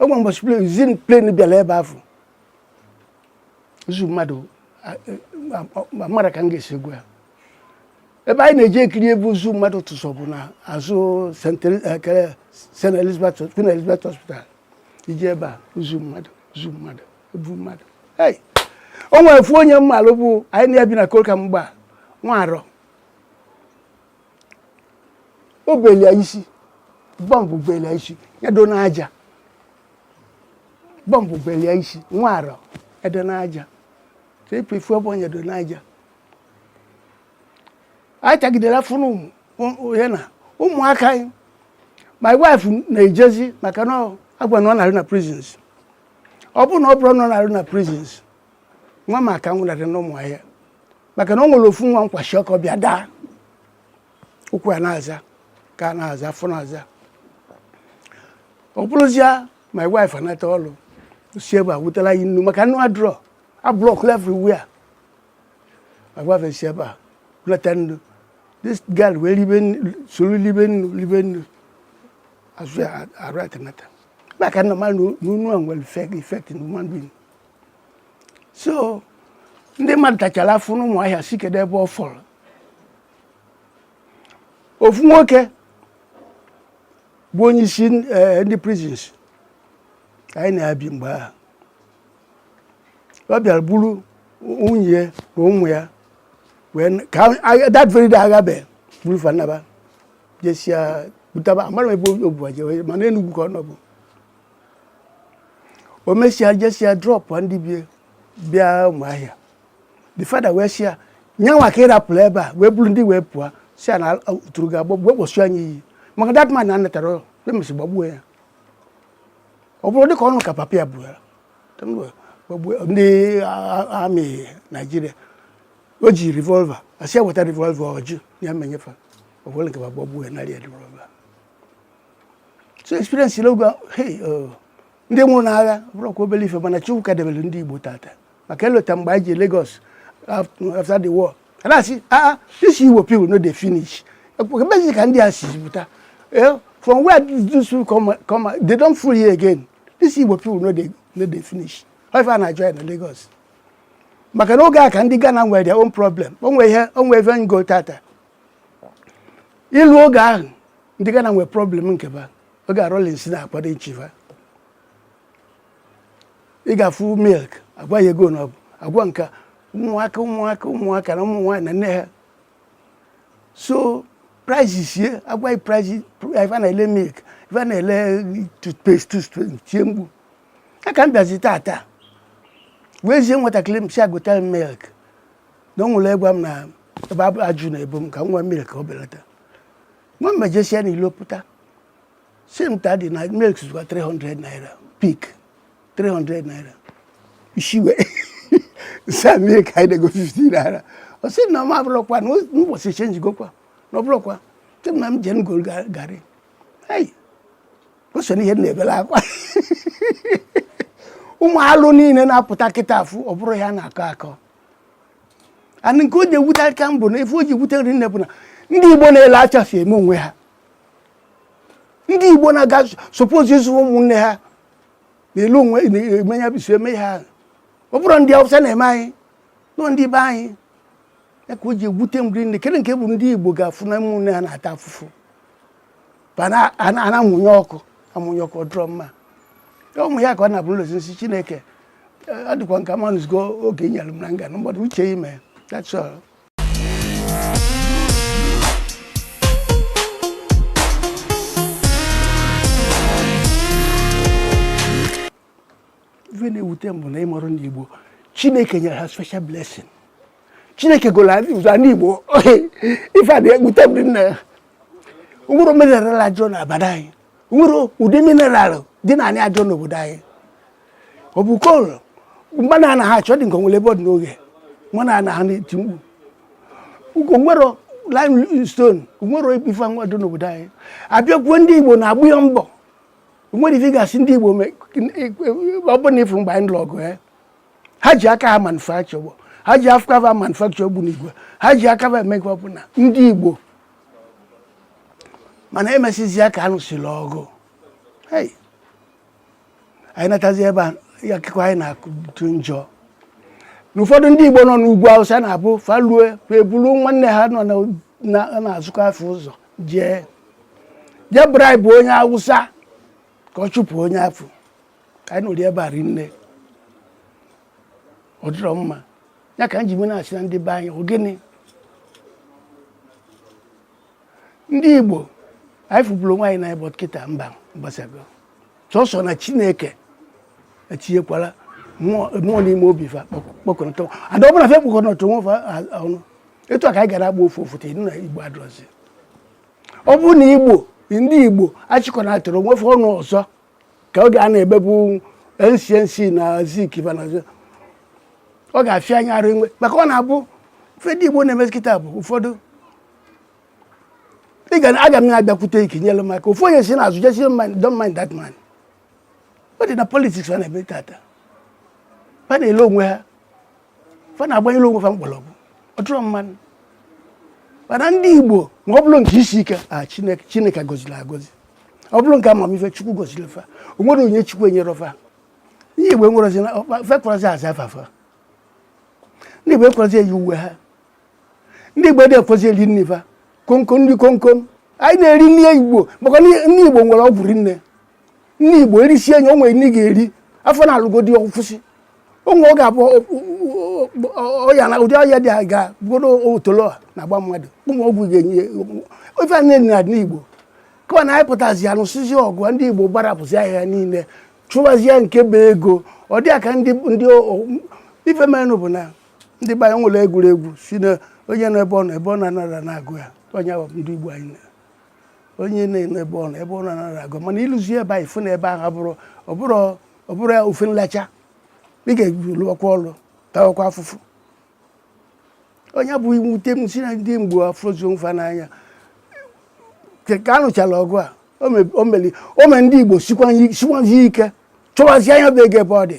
ofu mbọchị plane bịara ebe a fụ ozu mmadụ amarọ m ka m ga-esi ekwu ya ebe anyị na-eji ekiri ebe ozu mmadụ tụsọ bụ na azụ St. Elizabeth Queen Elizabeth Hospital i jee ebe a ozu mmadụ ozu mmadụ ebu mmadụ o nwere ofu onye m malụ bụ anyị na ya bi na Coal Camp mgbe nwa arọ o belia isi bọmbụ belia isi ya do n'aja bọmbụ belia isi nwa arọ edo n'aja ka epe ifu ebe onye do n'aja anyị tagidere afụfụ mụ na ụmụaka anyị my wife na-ejezi maka na agwa na ọ na-arụ na prisons ọ bụrụ na ọ bụrọ na ọ na-arụ na prisons nwa m aka anwụnarị n'Ụmụahịa maka na o nwere ofu nwa m kwashiorkor bịa daa ụkwụ ya na-aza aka na-aza afọ na-aza ọ bụrụzia my wife anata ọrụ si ebe a wetala ya nnu maka nnu adịrọ a block everywhere agwafesi ebe a leta nnu this girl wee libe soro libe nnu libe nnu azụ ya arụ atenata maka na mmadụ nnu a nwere effect na human being so ndị mmadụ tachara afụfụ n'Ụmụahịa si kedu ebe ọ fọrọ ofu nwoke bụ onye isi eh, ndị prisons anyị na-abi mgbe ahụ ọ bịara buru nwunye na ụmụ ya ka that very day agabe buru fa naba jesia butaba amarọ m ebe o bu wa jewe mana Enugwu ka ọ nọbu o mesịa jesia drop ndị be ya bịa Ụmụahịa the father wee sị ya nyanwa ka ị rapụrụ ebe a wee buru ndị wee pụọ sị ya na tụrụ ga-agbagbu wee kpọsụ anyị iyi maka that man na anatara e mesịa gbagbuo ya ọ bụrụ dịka ọnụ ka papa ya bụrụ ya ndị army Nigeria o ji revolver a sị ya weta revolver ọ jụ ya me nye fa ọbụla nke gbagbuo ya narị revolver so experience oge a hey oh, ndị nwụrụ n'agha abụrọkwa obere ife mana Chukwu ka debere ndị Igbo tata maka e lota mgbe anyị je Lagos after the war a na-asị aa ah, ah, this Igbo people no dey finish ebezi ka ndị a si pụta eh, from where this people come come they don full here again this Igbo people no dey no dey finish ife a na-ajụ ya na Lagos maka na oge a ka ndị Ghana nwere their own problem o nwe ihe o nwe ife m go tata ịlụ oge ahụ ndị Ghana nwere problem nke fa oge a Rawlings na-akwado ịchị fa ị ga-afụ milk a gwa ya ego na ọ bụ agwa nka ụmụaka ụmụaka ụmụaka na ụmụ nwaanyị na nne ha so price sie agwa ya price ife na-ele milk ife na-ele toothpaste toothpaste tie mkpu a ka m bịazi tata wee zie nwatakịrị m sị ya gota milk na o nwere gwa m na ebe ajụ na-ebu m ka m ṅụa milk o belata nwa m ejesịa na ilo pụta sị m daddy na milk zụkwa 300 naira Peak 300 naira isiwe sa milk anyị na-ego 50 naira ọ sị na m abụrụkwa na ụbọchị changegokwa na ọ bụrụkwa sị na m jee m goro garị o so n'ihe na-ebela akwa ụmụ alụ niile na-apụta kịta afụ ọ bụrụ ya na-akọ akọ and nke o ji ewute aka mbụ na ife o ji ewute rinne bụ na ndị Igbo na-ele acha si eme onwe ha ndị igbo na-aga suppose ịzụ ụmụnne ha n'elu onwe emenya biso eme ha ọ bụrọ ndị awụsa na-eme anyị ọ ndị be anyị ya ka o ji ewute m rinne kee nke bụ ndị igbo ga-afụ na ụmụnne ha na-ata afụfụ a na-amụnye ọkụ amụnye ọkụ ọ dịrọ mma ụmụ ya ka ọ na-abụ n'ụlọ osisi chineke ọ dịkwa nke amanụzigo oge nyere m na nga na mgbada uche ime that's all ife na-ewute m bụ na ịmụrụ ndị Igbo Chineke nyere ha special blessing Chineke golo adị ụzọ ndị Igbo ife a na-ewute m nna o nwere mineral adịrọ n'obodo anyị o nwere ụdị mineral dị n'ana adịrọ n'obodo anyị ọ bụ coal mmanụ a na ha achọ dị nke onwere ebe ọ dị n'oge mmanụ a na ha na-eti mkpu ugo nwere limestone nwere ife nwa dị n'obodo anyị a bịakwuo ndị igbo na-agba ya mbọ nwere ife ị ga-asị ndị igbo mee ọ bụ na ị fụrọ mgbe anyị lụrụ ọgụ ya ha ji aka ha manufacture ụgbọ ha ji aka ha manufacture ogbunigwe ha ji aka ha eme ife ọbụla ndị igbo mana emesizi ya ka a lụsịrị ọgụ Hey. anyị natazi ebe a ya akụkọ anyị na-akụtu njọ na ụfọdụ ndị Igbo nọ n'ugwu Awụsa na-abụ fa lue fa eburu nwanne ha nọ na- na-azụkọ afịa ụzọ jee jee bribe onye Awụsa ka ọ chụpụ onye afụ anyị nụrụ ya ebe a rinne ọ dịrọ mma ya ka m ji na-asị na ndị be anyị ọ gịnị ndị Igbo anyị fụburu onwe anyị n'anya but kịta mba agbasago sọsọ na chineke etinyekwara mmụọ n'ime obi fa kpọkọnọtọ and ọ bụrụ na fa akpọkọnọtarọ onwe fa ọnụ etu a ka anyị ga na-agba ofu ofu tee na igbo adịrọzi ọ bụrụ na igbo ndị igbo achịkọnatarọ onwe fa ọnụ ọzọ ka oge a na-ebebu ncnc na zik fa nọ ọ ga-afịa anyị arụ inwe maka ọ na-abụ ife ndị igbo na-emezi kịta bụ ụfọdụ ị ga aga m na-abịakwute gị ka i nyere m aka ofu onye si n'azụ jee sị don't mind that man ọ dị na politics fa na-eme tata fa na-ele onwe ha fa na-agbanyere onwe fa mkpọrọgwụ ọ dịrọ mma mana ndị igbo ma ọ bụrụ nke isi ike a chineke chineke gọziri agọzi ọ bụrụ nke amamife chukwu gọziri fa o nwere onyinye chukwu enyerọ fa ndị igbo enwerozi fa ekwerozi aza afa fa ndị igbo ekwerozi eyi uwe ha ndị Igbo dị ekwezi eri nri fa komkom nri komkom anyị na-eri nri Igbo maka nri Igbo nwere ọgwụ rinne nri Igbo erisi enyi o nwere nri ị ga-eri afọ na-alụgodi ọ kwụsị onwe ọ ga-abụ ọya na ụdị ọya dị aga bụrụ otolo na-agba mmadụ ụmụ ọgwụ ga-enye ofe a na-eri na Igbo kama na anyị pụtazi ya nụsịzi ọgụ ndị Igbo gbarapụzi ihe a niile chụwazie nke bụ ego ọ dị ka ndị ndị ife merenụ bụ na ndị be anyị nwere egwuregwu sị na onye nọ ebe ọ nọ ebe ọ na-anọrọ na-agụ ya onye ahụ ndị Igbo anyị na onye na-anọ ebe ọ nọ ebe ọ na-anọrọ agụ mana i luzie ebe ahụ ị fụ na ebe ahụ abụrọ ọ bụrọ ọ bụrọ ya ofe nlacha ị ga-eje lụọkwa ọlụ tawakwa afụfụ ọ ya bụ mwute m sị na ndị Igbo afụrọzi onwe fa n'anya ka a nụchara ọgụ a o meli o mere ndị Igbo sikwazi ike chọwazi ya bụ ego ebe ọ dị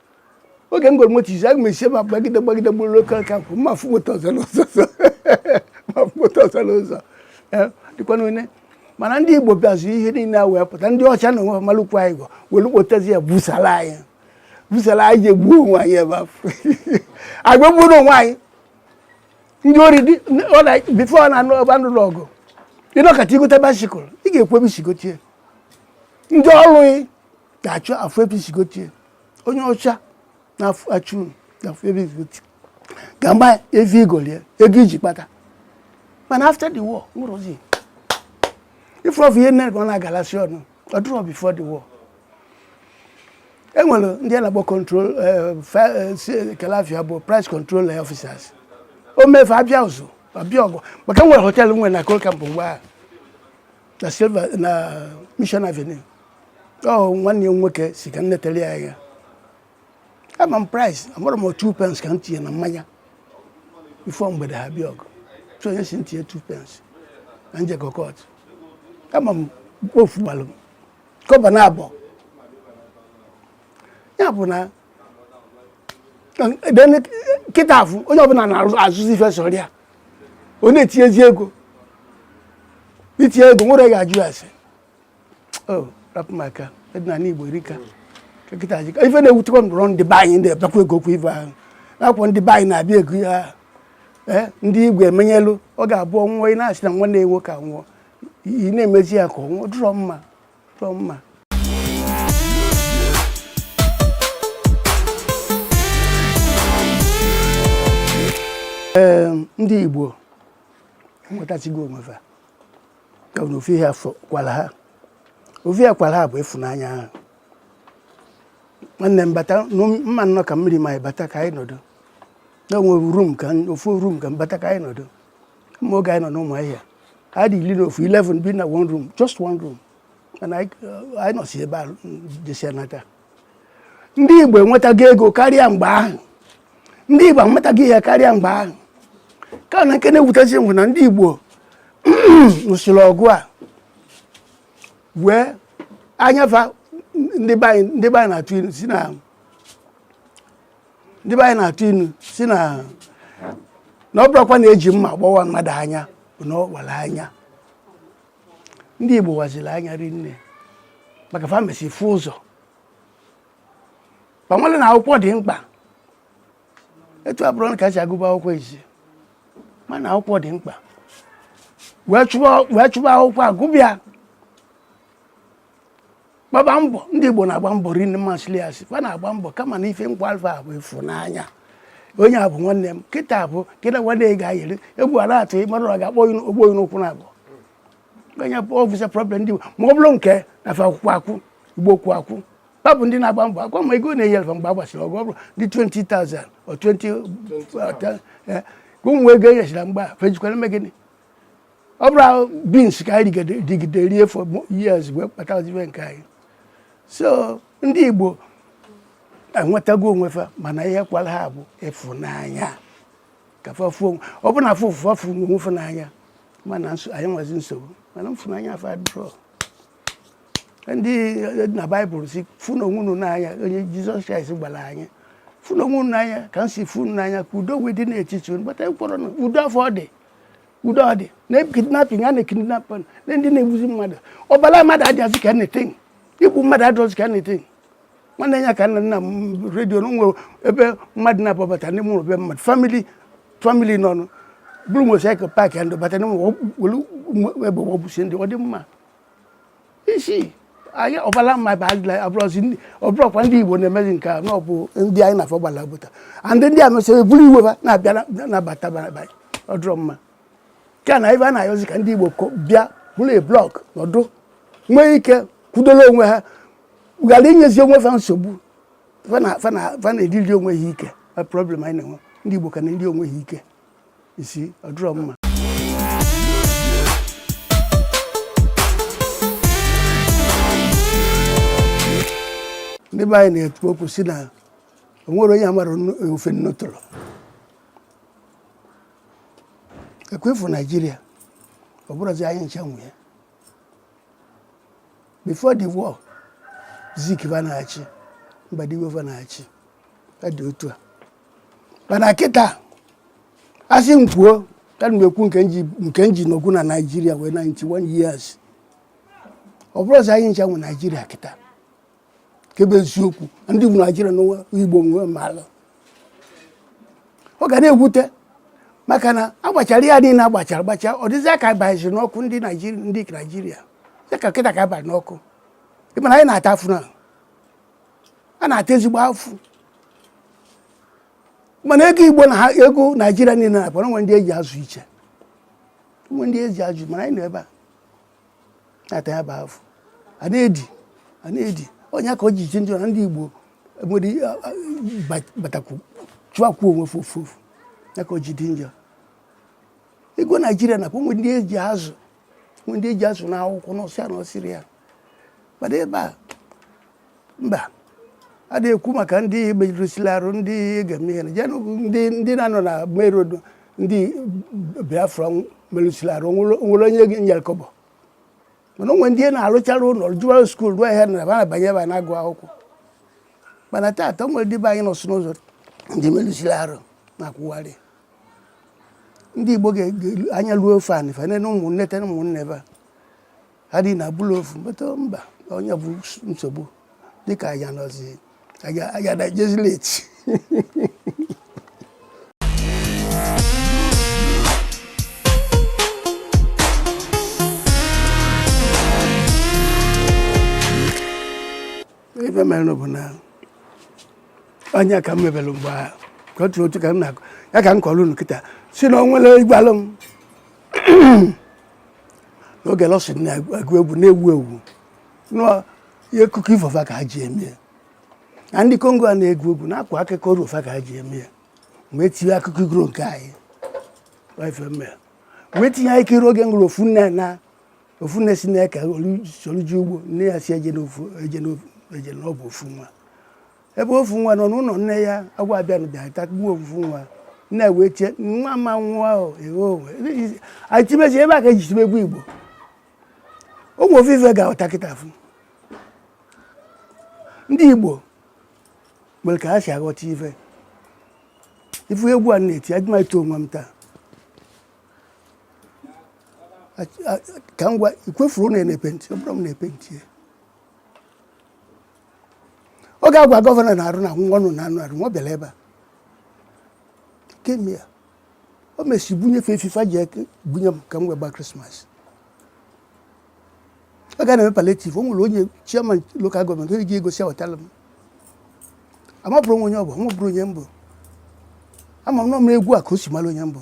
oge m goro moto izizi aga m esi ebe a gbagide gbagide gbaruo Coal Camp m ma-afụ moto ọzọ n'ụzọ ọzọ. m ma-afụ moto ọzọ n'ụzọ Eh, dịkwa n'one mana ndị Igbo bịazị ihe niile a wee pụta ndị ọcha na onwe ha malụkwu anyị agwa were kpotezi ya busara anyị busara anyị ji egbuo onwe anyị ebe afụ agbagburu onwe anyị ndị ori dị ọ na before ọ na-anụ ọba ndụ n'ọgụ ị nọkata i gote bicycle ị ga-ekwu ebe i si gote ya ndị ọrụ ị ga-achọ ịfụ ebe i si gote ya onye ọcha na-achọ ịfụ ebe i si gote ya ga-ama ebe i golu ya ego i ji kpata mana after the war nwerọzi ife ọfụ ihe nine ka ọ na-agalasi ọnụ ọ dịrọ before the war e nwere ndị a na-akpọ control eh, fi- eh, si- kedụ afa ya bụ price control eh, officers o mee fa abịa ụzụ abịa ọgụ maka nwere hotel nwere na Coal Camp mgbe ahụ na Silver na Mission Avenue ọ nwanne ya nwoke sị ka m netere ya anya ama m price amarọ m two pence ka m tinye na mmanya before mgbede ha abịa ọgụ so onye sị m tinye two pence na m jekọ court ama m ofu gbalụ m kọba na abụọ ya bụ na kịta afụ onye ọbụla na-azụzi ife sọrọ ya ọ na-etinyezi ego i tinye ego nwerọ ga-ajụ ase oh, rapụ maka ọdịnala Igbo erika kịta ji ife na-ewutekwa m bụrụ ndị be anyị ndị ebekwa ego okwu ibe ahụ akwụkwọ ndị be anyị na-abịa ego ya eh, ndị Igbo emenyelu ọ ga-abụ ọ nwụọ ị na-asị na nwanne nwụọ ka nwụọ ị na-emezi ya ka ọ nwụọ adịrọ mma dụrọ mma ee ndị Igbo enwetachigo onwe ha ka na ofu ihe kwara ha ofu ihe kwara ha bụ ịfụnanya ha nwanne m bata mma nnọọ ka mmiri ma anyị bata ka anyị nọdụ na one room ka ofu room ka m bata ka anyị nọdụ ma oge anyị nọ n'Ụmụahịa anyị dị iri na ofu 11 bi na one room just one room mana anyị uh, nọsi ebe a jesịa nata ndị Igbo enwetago ego karịa mgbe ahụ ndị Igbo amatago ihe karịa mgbe ahụ ka na nke na-ewutezi bụ na ndị Igbo nụsịrị ọgụ a waa anya fa ndị be anyị na-atụ si na ndị be anyị na-atụ inu si na na ọ bụrọkwa na eji mma gbawa mmadụ anya bụ na ọ wara anya ndị Igbo waziri anya rinne maka fa mesịrị fụ ụzọ fa mara na akwụkwọ dị mkpa etu abụrọ na ka si agụba akwụkwọ ezi mara na akwụkwọ dị mkpa wee chụba akwụkwọ agụba ya gbaba mbọ ndị Igbo na-agba mbọ rinne ma sịli asị fa na-agba mbọ kama na ife kwara fa bụ ịfụnanya onye a bụ nwanne m kịta bụ kịta nwanne ị ga-ayere egwu a na-atụ ịmara ọ ga-akpọ ogbo onye n'ụkwụ na abụ onye bụ ọfisa problem ndị Igbo ma ọ bụrụ nke na fa akwụkwọ akwụ Igbo kwụ akwụ ha bụ ndị na-agba mbọ akwa ma ego na-enyere fa mgbe a gbasịrị ọgụ ọ bụrụ ndị 20,000 or 20 ka ụmụ ego enyechara mgbe a fa jikwara eme gịnị ọ bụrọ beans ka anyị rigide rie for years wee kpatazi ife nke anyị so ndị Igbo enwetago onwe fa mana ihe kwara ha bụ ịfụnanya ka fa fụ ọ bụ na afọ ofufe afụ onwe fa n'anya mana anyị nwazi nsogbu mana mfụnanya afụ adịrọ ndị e, na baịbụl sị fụnụ onwe unu n'anya onye jizọs kraịst gwara anyị fụnụ onwe unu n'anya ka m si fụ unu n'anya ka udo wee dị n'etiti unu but ekwerọ na udo afụ ọ dị udo ọ dị na kidnapping a na-ekidnap na ndị na-egbuzi mmadụ ọbara mmadụ adịghịzi ka anything igbu mmadụ adịghịzi ka anything nwanne nyaa ka m nụ na redio na nwere ebe mmadụ na-ababata n'ime ụlọ be mmadụ famili famili nọ buru motosaịkụl paakị ya ndị bata n'ime ụlọ were egbe gbusi ndị ọ dị mma isi anyị ọbala mmadụ adịrọ abụrọzi ọ bụrọkwa ndị igbo na-emezi nke a na ọ bụ ndị anyị na fa gbala bọda and ndị a mesịrị buru iwe fa na-abịa na-abata be anyị ọ dụrọ mma nke a na ebe a na-ayọzi ka ndị igbo bịa bụrụ a block nọdụ nwee ike kwudola onwe ha ghara inyezi onwe fa nsogbu fa na-eriri onwe ha ike problem anyị na-enwe ndị igbo ka na-eri onwe ha ike isi ọ dịrọ mma ndị be anyị na-ekwu okwu sị na o nwere onye amara nnu- ofe nnu tụrụ ekwefu naijiria ọ bụrọzi anyị ncha nwe ya before the war zik va na-achị mbadiwe va na-achị ọ dị otu a mana kịta a sị m kwuo ana m ekwu nke nji nke nji n'okwu na naijiria wee 91 years ọ bụrọzi anyị ncha nwe naijiria kịta kebe eziokwu ndị bụ naijiria na onye igbo nwe mala ọ ga na-ewute maka na agbachara ya niile agbachara agbacha ọ dịzịa ka a baziri n'ọkụ ndị naijiria ndị naijiria dịka kịta ka a bali n'ọkụ ị ma na anyị na-ata afụ na a na-ata ezigbo afụ mana ego igbo na ego naijiria niile na-akpọ o nwe ndị eji azụ iche nwe ndị eji azụ mana anyị nọ ebe a na-ata ya bụ afụ a na-edi a na-edi ọ ya ka o ji dị njọ na ndị igbo nwere batakwu chịakwuo onwe fa ofu ofu ya ka o ji dị njọ ego naijiria na-akpọ nwe ndị eji azụ ndị eji azụ n'akwụkwọ n'ọsịa na ọsịrị ya mana ebe a mba a na-ekwu maka ndị merụsila arụ ndị ga-eme ihe ndị na-anọ na merodo ndị biafra merụsila arụ nwerọ onye nyere kọbọ mana o nwe ndị a na-arụchara ụlọ jụwa skuul ruo ahịa na na-abanye ebe a na-agụ akwụkwọ mana taata o nwere ndị be anyị nọsị n'ụzọ ndị merụsila arụ na-akwụgharị ndị Igbo ga-ele anya ruo ofe anị fa nene ụmụnne ten ụmụnne ebe a ha dị na bụlụ ofu meta mba onye bụ nsogbu dịka anya nọzi anya na jezi leti ife mere bụ na ọ ya ka m mebere mgbe ahụ ka otu otu ka m na-akọ ya ka m kọrọ unu kịta sị na o nwere igbalụ m n'oge lọsị na-agụ egwu na-ewu ewu ihe akụkọ ifo fa ka ha ji eme ya na ndị kongo a na-agụ egwu na-akọ akụkọ iro fa ka ha ji eme ya m wee tinye akụkọ iro nke anyị m wee tinye anyị kiri oge m gụrụ ofu nne na ofu nne si na ka o soro je ugbo nne ya si eje na ọ bụ ofu nwa ebe ofu nwa nọ n'ụlọ nne ya agwọ abịa na bịa tagbuo ofu nwa nne wee tie nwa ma nwa ahụ anyị timezi ebe a ka e ji tibe egwu igbo ọ bụ ofu ife ga-aghọta kịta afụ ndị igbo nwere ka ha si aghọta ife ị fụ egwu a na-eti adị m eti onwe m taa ka m gwa ikwefuru na na-epenti ọ bụrụ m na-epenti ya ọ ga-agwa gọvanọ na-arụ na nwa ọnụ na anụ arụ nwa bịara ebe a kemgbe ya o mesi bunyefe efifa ji eke bunye m ka m wee gba krismas ọ ga na-eme palliative o nwere onye chairman local government onye ji egosi awetala m amabụrọ m onye ọ bụ amabụrọ onye m bụ ama m na ọ bụ egwu a ka o si mara onye m bụ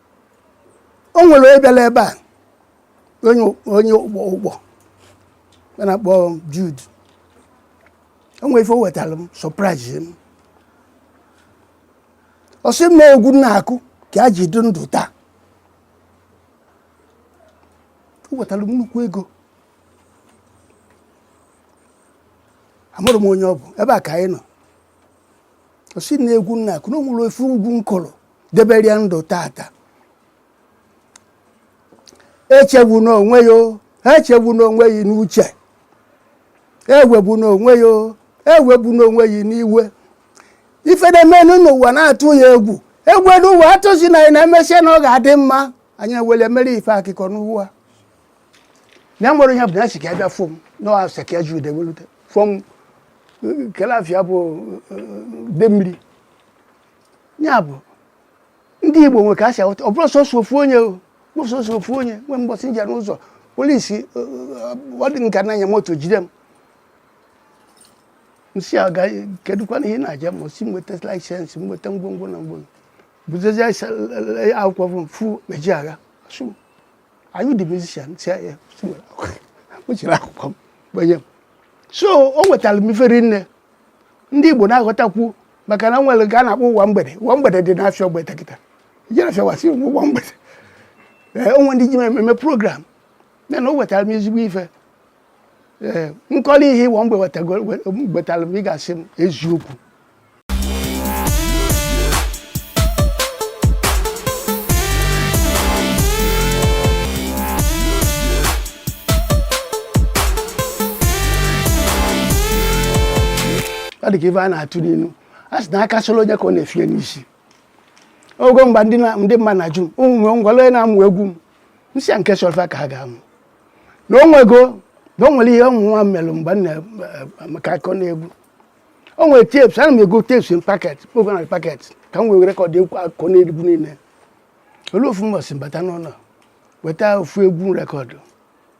o nwere onye bịara ebe a onye Ugbo a na-akpọ Jude o nwere ife o wetara m surprise m ọ sị m na egwu na-akụ ka ya ji dị ndụ taa o wetara m nnukwu ego amarọ m onye ọ bụ ebe a ka anyị nọ ọ sị na egwu na-akụ na o nwere ofu egwu m kụrụ debere ya ndụ tata echegbuna onwe ya o, echegbuna onwe ya n'uche ewegbuna onwe ya o, ewegbuna onwe ya n'iwe ife na-emenụ n'ụwa na-atụ ya egwu egwu elu ụwa atụzina anyị na emesịa na ọ ga-adị mma anyị ewere mere ife akụkọ n'ụwa na nwere ihe bụ na esi ka ya bịa fụ m na ọ sị ka ya ji ude welute fụ m kelafia bụ de mmiri ya bụ ndị Igbo nwe ka ha si ahụta ọ bụrọ sọsọ ofu onye o sọsọ ofu onye nwe mbọsị m je n'ụzọ polisi ọ dị nka na-anya moto jide m m sị a kedụkwanụ ihe na-aja ma si nweta license nweta ngwongwo na ngwongwo bụzezi akwụkwọ bụ m fụ Ejeagha sị are you the musician si ya ọ chịrị akwụkwọ m bunye m so o nwetara m ife rinne ndị Igbo na-aghọtakwu maka na e nwere nke a na-akpọ ụwa mgbede ụwa mgbede dị n'afịa Ogbete kịta i jere afịa wa sị ụwa mgbede ee o nwe ndị ji eme program ya na o wetara m ezigbo ife ee m kọrọ ihe ụwa mgbede wetara m ị ga-asị m eziokwu ọ dị ka ife a na-atụ n'inu a sị na aka solo onye ka ọ na-efie n'isi ogo mgbe ndị na- ndị mmadụ na-ajụ m ụmụ ngwale onye na-amụ egwu m m si ya nke solfa ka ha ga-amụ na onwego na o nwere ihe mụnwa melụ mgbe m na-amụ akụkọ n'egwu o nwere tapes ana m ego tapes in packet ogo na packet ka m wee record egwu akụkọ n'egwu niile o lue ofu mbọsị m bata n'ụlọ weta ofu egwu rekọdụ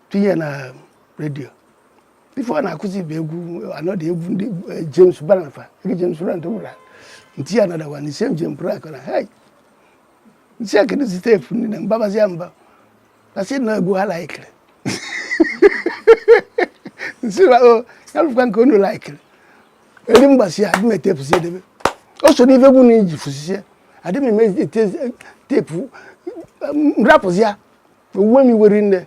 tinye na redio ife ọ na-akụzi bụ egwu anọdụ egwu ndị eh, James Brown na fa ege James Brown na fa gwara nti ya nadawa na ise njem pụrụ akọ na hei nti ya keduzi tape ndị na mbabazi ya mba na sị na egwu ha laikiri m si na o oh, ya lụkwa nke unu laikiri eri mgbasi ya adị m etefusi edebe o so n'ife egwu anyị ji fusisie adịghị m eme tape m rapụzie ya o we m iwe rinne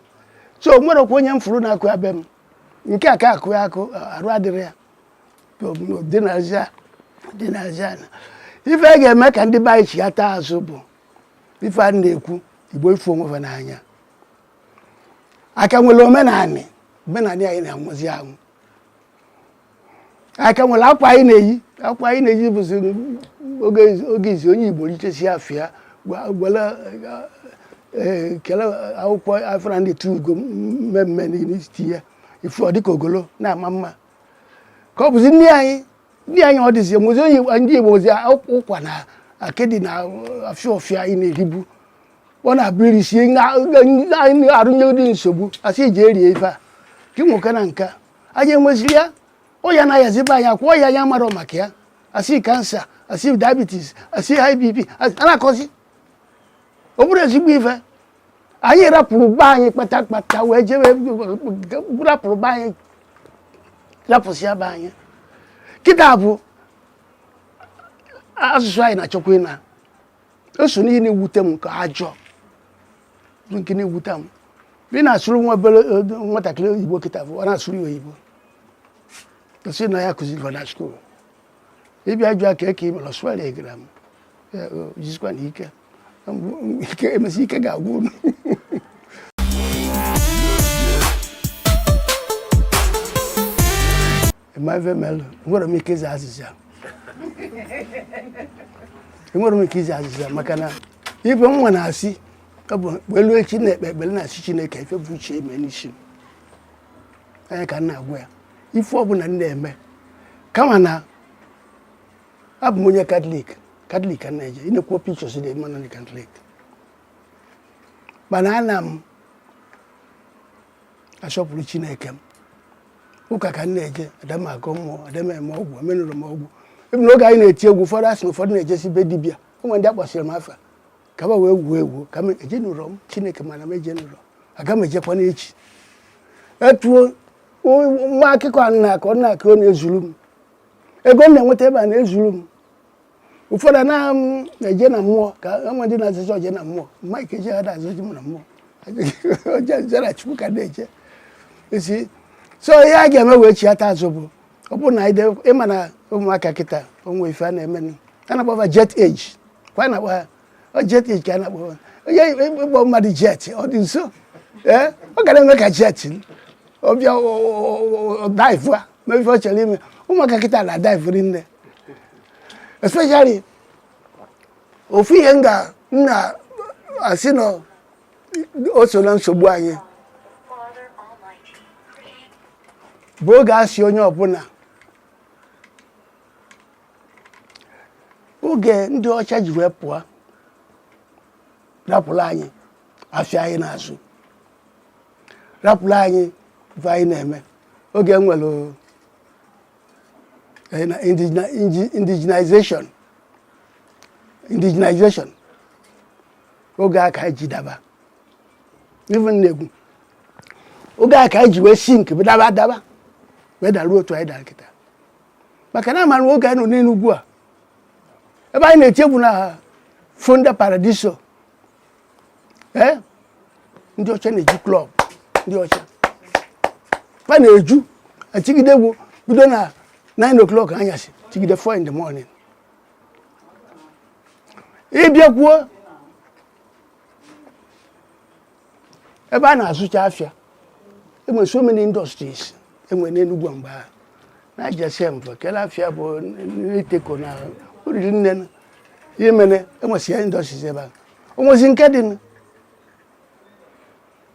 so o nwerọkwụ onye m furu na-akụ ya be m nke a ka akụ ya akụ arụ adịrị ya dị na aja dị na aja na ife a ga-eme ka ndị be anyị chighata azụ bụ ife a na-ekwu igbo ife onwe fa n'anya a ka nwere omenanị omenanị anyị na-anwụzi anwụ a ka nwere akwa anyị na-eyi akwa anyị na-eyi bụzi oge oge izi onye igbo richesi afọ ya gwa- gwala eh, kele akwụkwọ afra ndị tu ugo mmemme n'isi ya ifu ọ dịka ogolo na-ama mma ka ọ bụzi nne anyị nne anyị ọ dịzi mozi onye Igbo- ndị igbo mozi akwụkwọ ụkwa na akịdị na afịa ọfịa anyị na-eribu ọ na-abụ e risie na- na- na- arụnye ụdị nsogbu a sị i ji erie ife a ka ị nwoke na nka anyị enweziri ya ọya na-ayazi be anyị a kọọ ọya anyị amarọ maka ya a sị cancer a sị diabetes a sị high bp a na-akọzi ọ bụrụ ezigbo ife anyị rapụrụ be anyị kpata kpata wee jewe rapụrụ be anyị rapụsịa be anyị kịta bụ asụsụ anyị na-achọkwa ịna o so n'ihe na-ewute m nke ka njọ bụ nke na-ewute m ị na-asụrụ nwa obere eh, nwatakịrị oyibo kịta bụ ọ na-asụrụ ya oyibo ọ sị na ya kụziri fa na school ị bịa jụọ kee ka i mere ọ sụwara ị grammar Ya, o, jisikwanụ ike M- ike e mesịa ike ga-agwụ unu ma ife melụ enwere m ike ịza azịza enwere m ike ịza azịza maka na ife nwa na-asị ọ bụ elu echi na-ekpe ekpere na-asị chineke ife bụ uche ị mee n'isi m ya ka m na-agwa ya ife ọbụla m na-eme kama na abụ m onye katọlik katọlik ka m na-eje ị na-ekwu pictures dị mmanụ ndị katọlik mana ana m asọpụrụ chineke m ụka ka m na-eje ada m agọ mmụọ ada m eme ọgwụ emenụrọ m ọgwụ even n'oge anyị na-eti egwu ụfọdụ asị na ụfọdụ na-ejesi be dibịa enwe ndị akpọsịrị m afa ka ba wee wuo ewu kama ejenụrọ m chineke ma na m ejenụrọ aga m ejekwa n'echi etuo nwa akụkọ a m na-akọ na-akọ ọ na-ezuru m ego m na-enweta ebe a na-ezuru m ụfọdụ na-eje na mmụọ ka enwe ndị na-azụ chọọchị na mmụọ mike ejeagha na-azụchi m na mmụọ oje zara chukwu ka na-eje isi so ihe a ga-eme wee chiata azụ bụ ọ bụrụ na ị ma na ụmụaka kịta onwe ife a na-eme a na-akpọ ba jet age kwa a na-akpọ ha jet age ka a na-akpọ ha onye ịkpọ mmadụ jet ọ dị nso ee ọ ga na-eme ka jet ọ bịa dive e mee ife ọ chọrọ ime ụmụaka kịta na-dive rinne especially ofu ihe m ga m na-asị na o so na nsogbu anyị bụ oge a sị onye ọbụla oge ndị ọcha ji wee pụọ rapụrụ anyị afịa anyị n'azụ rapụrụ anyị ife anyị na-eme oge e nwere eh, na indigenization indigenization oge a ka anyị ji daba even n'egwu oge a ka anyị ji wee sink wee daba daba wee daruo otu anyị dara kịta maka na amara oge anyị nọ n'enugwu a ebe anyị na-eti egwu na fonda paradiso ee ndị ọcha na-eju club ndị ọcha ba na-eju achigide egwu bido na 9 o'clock anyasị chigide 4 in the morning ịbịakwuo ebe a na-azụcha afịa enwere so many industries enwere n'Enugwu mgbe ahụ na jesem bụ kele afịa bụ n'iteko na oriri nne na ihe mere enwesịa industries ebe a onwezi nke dị nụ.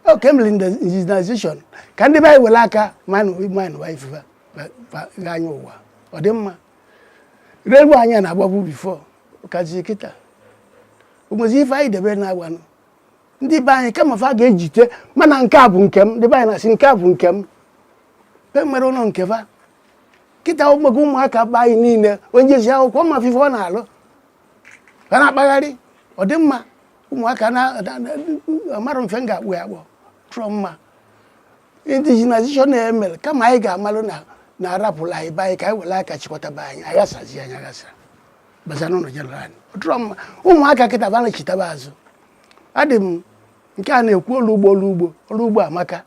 o ka emere indigenization ka ndị be anyị were aka manụ manụ wa ife fa ga anya ụwa ọ dị mma relu anya na-agbagbu bifo kazi kịta onwezi ife anyị debe na-agbanụ ndị be anyị kama fa ga-ejite mana nke a bụ nke m ndị be anyị na-asị nke a bụ nke m be nwere ụlọ nke fa kịta ụmụaka ụmụaka be anyị niile onye jesị akwụkwọ ma fụ ife ọ na-alụ ha na-akpagharị ọ dị mma ụmụaka na amarọ m ife m ga-akpọ ya akpọ ọ dịrọ mma indigenization na e mere kama anyị ga-amalụ na a rapụlụ anyị be anyị ka anyị were aka chịkọtaba anyị aghasazi anyị aghasa baza n'ụlọ jeneral anyị ọ dịrọ mma ụmụaka kịta ba nachitaba azụ adị m nke a na-ekwu ọrụ ugbo ọrụ ugbo ọrụ ugbo amaka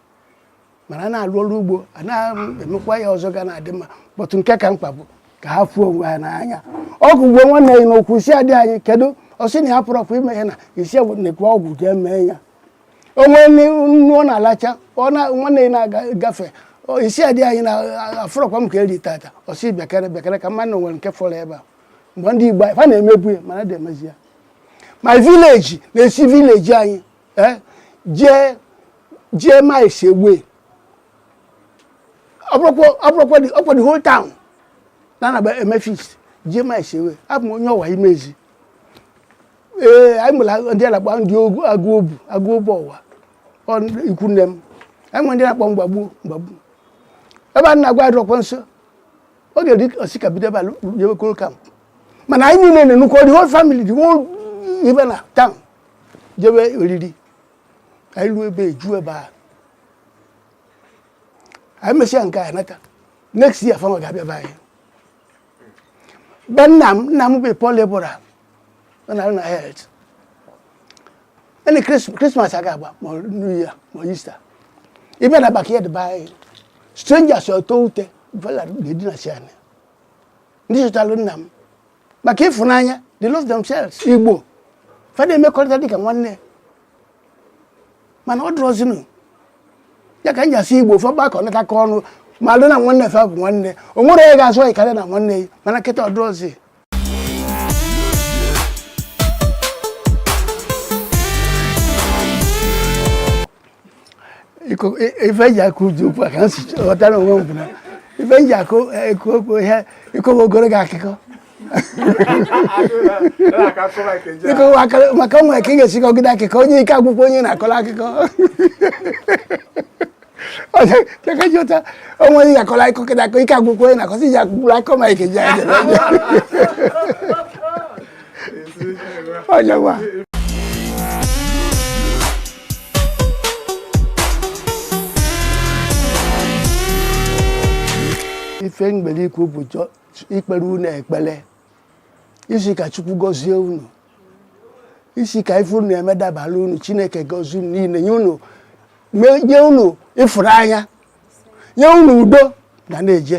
mana a na-alụ ọrụ ugbo a na-emekwa ihe ọzọ ga na-adị mma but nke ka mkpa bụ ka ha fụ onwe ha n'anya ọ bụ gboo nwanne ya n'okwu ị sị ya dianyị kedu ọ sị na ya pụrọkwa ime ya na ị sị nekwa ego jee mee ya o nwee nnu ọ na-alacha nwanne ya na-agafe ị sị ya dianyị na afụrọkwa m ka eri tata ọ sị bekere bekere ka mmadụ nwere nke fọrọ ebe a mgbe ndị Igbo ha na-emebu ya mana a dị emezi ya my village na-esi village anyị ẹ jẹ jẹ má ẹ ṣe wé ọpọlọpọ ọpọlọpọ di ọpọ di whole town nana bẹ ẹ mẹfi jẹ má ẹ ṣe wé àbùn onye ọwà yìí mẹzi ee anyị mụrụ ndị alakpa ndị ogu agụ obu agụ obu ọwa ọ ikwu nne m anyị nwere ndị na-akpọ mgbagbu mgbagbu ebe a na-agwa adọkwa nso ọ ga-eri osi ka bido ebe a jebe koro kamp mana anyị niile na-enukọ the whole family the whole ibe na town jebe oriri anyị ruo ebe eju ebe a anyị mesịa nke a nata next year fanwa ga-abịa be anyị be nna m nna m bụ Paul Ebora ọ na-arụ na health any Christmas a ga-agba ma new year ma Easter ị bịa na backyard be anyị strangers atọọ ute vela na-edinasị anị ndị chọtalụ nna m maka ịfụnanya they love themselves igbo fa na-emekọrịta dịka nwanne mana ọ dụrọzinụ ya ka m ji asị igbo fa gbakọ natakọ ọnụ malụ na nwanne fa bụ nwanne o nwerọ onye ga-azọ ị karịa na nwanne ya mana kịta ọ dụrọzi ife e ji akụ uju okwu a ka m si ghọtara onwe m bụ na ife e ji akụ ekwu okwu ihe ịkọwa ogologo akụkọ ịkọwa akụkọ maka o nwere ka ị ga-esi kọgide akụkọ onye ike agwụkwọ onye a na-akọrọ akụkọ chekajota onwe onye ga-akọrọ akụkọ kịta akọ ike agwụkwọ onye na-akọsị ji akụkpụrụ akọ ma ike ji aja ife m nwere ikwu bụ ikpere unu ekpere ịsị ka chukwu gọzie unu ịsị ka ife unu eme dabara unu chineke gọzie unu niile nye unu nye unu ịfụnanya nye unu udo na na-eje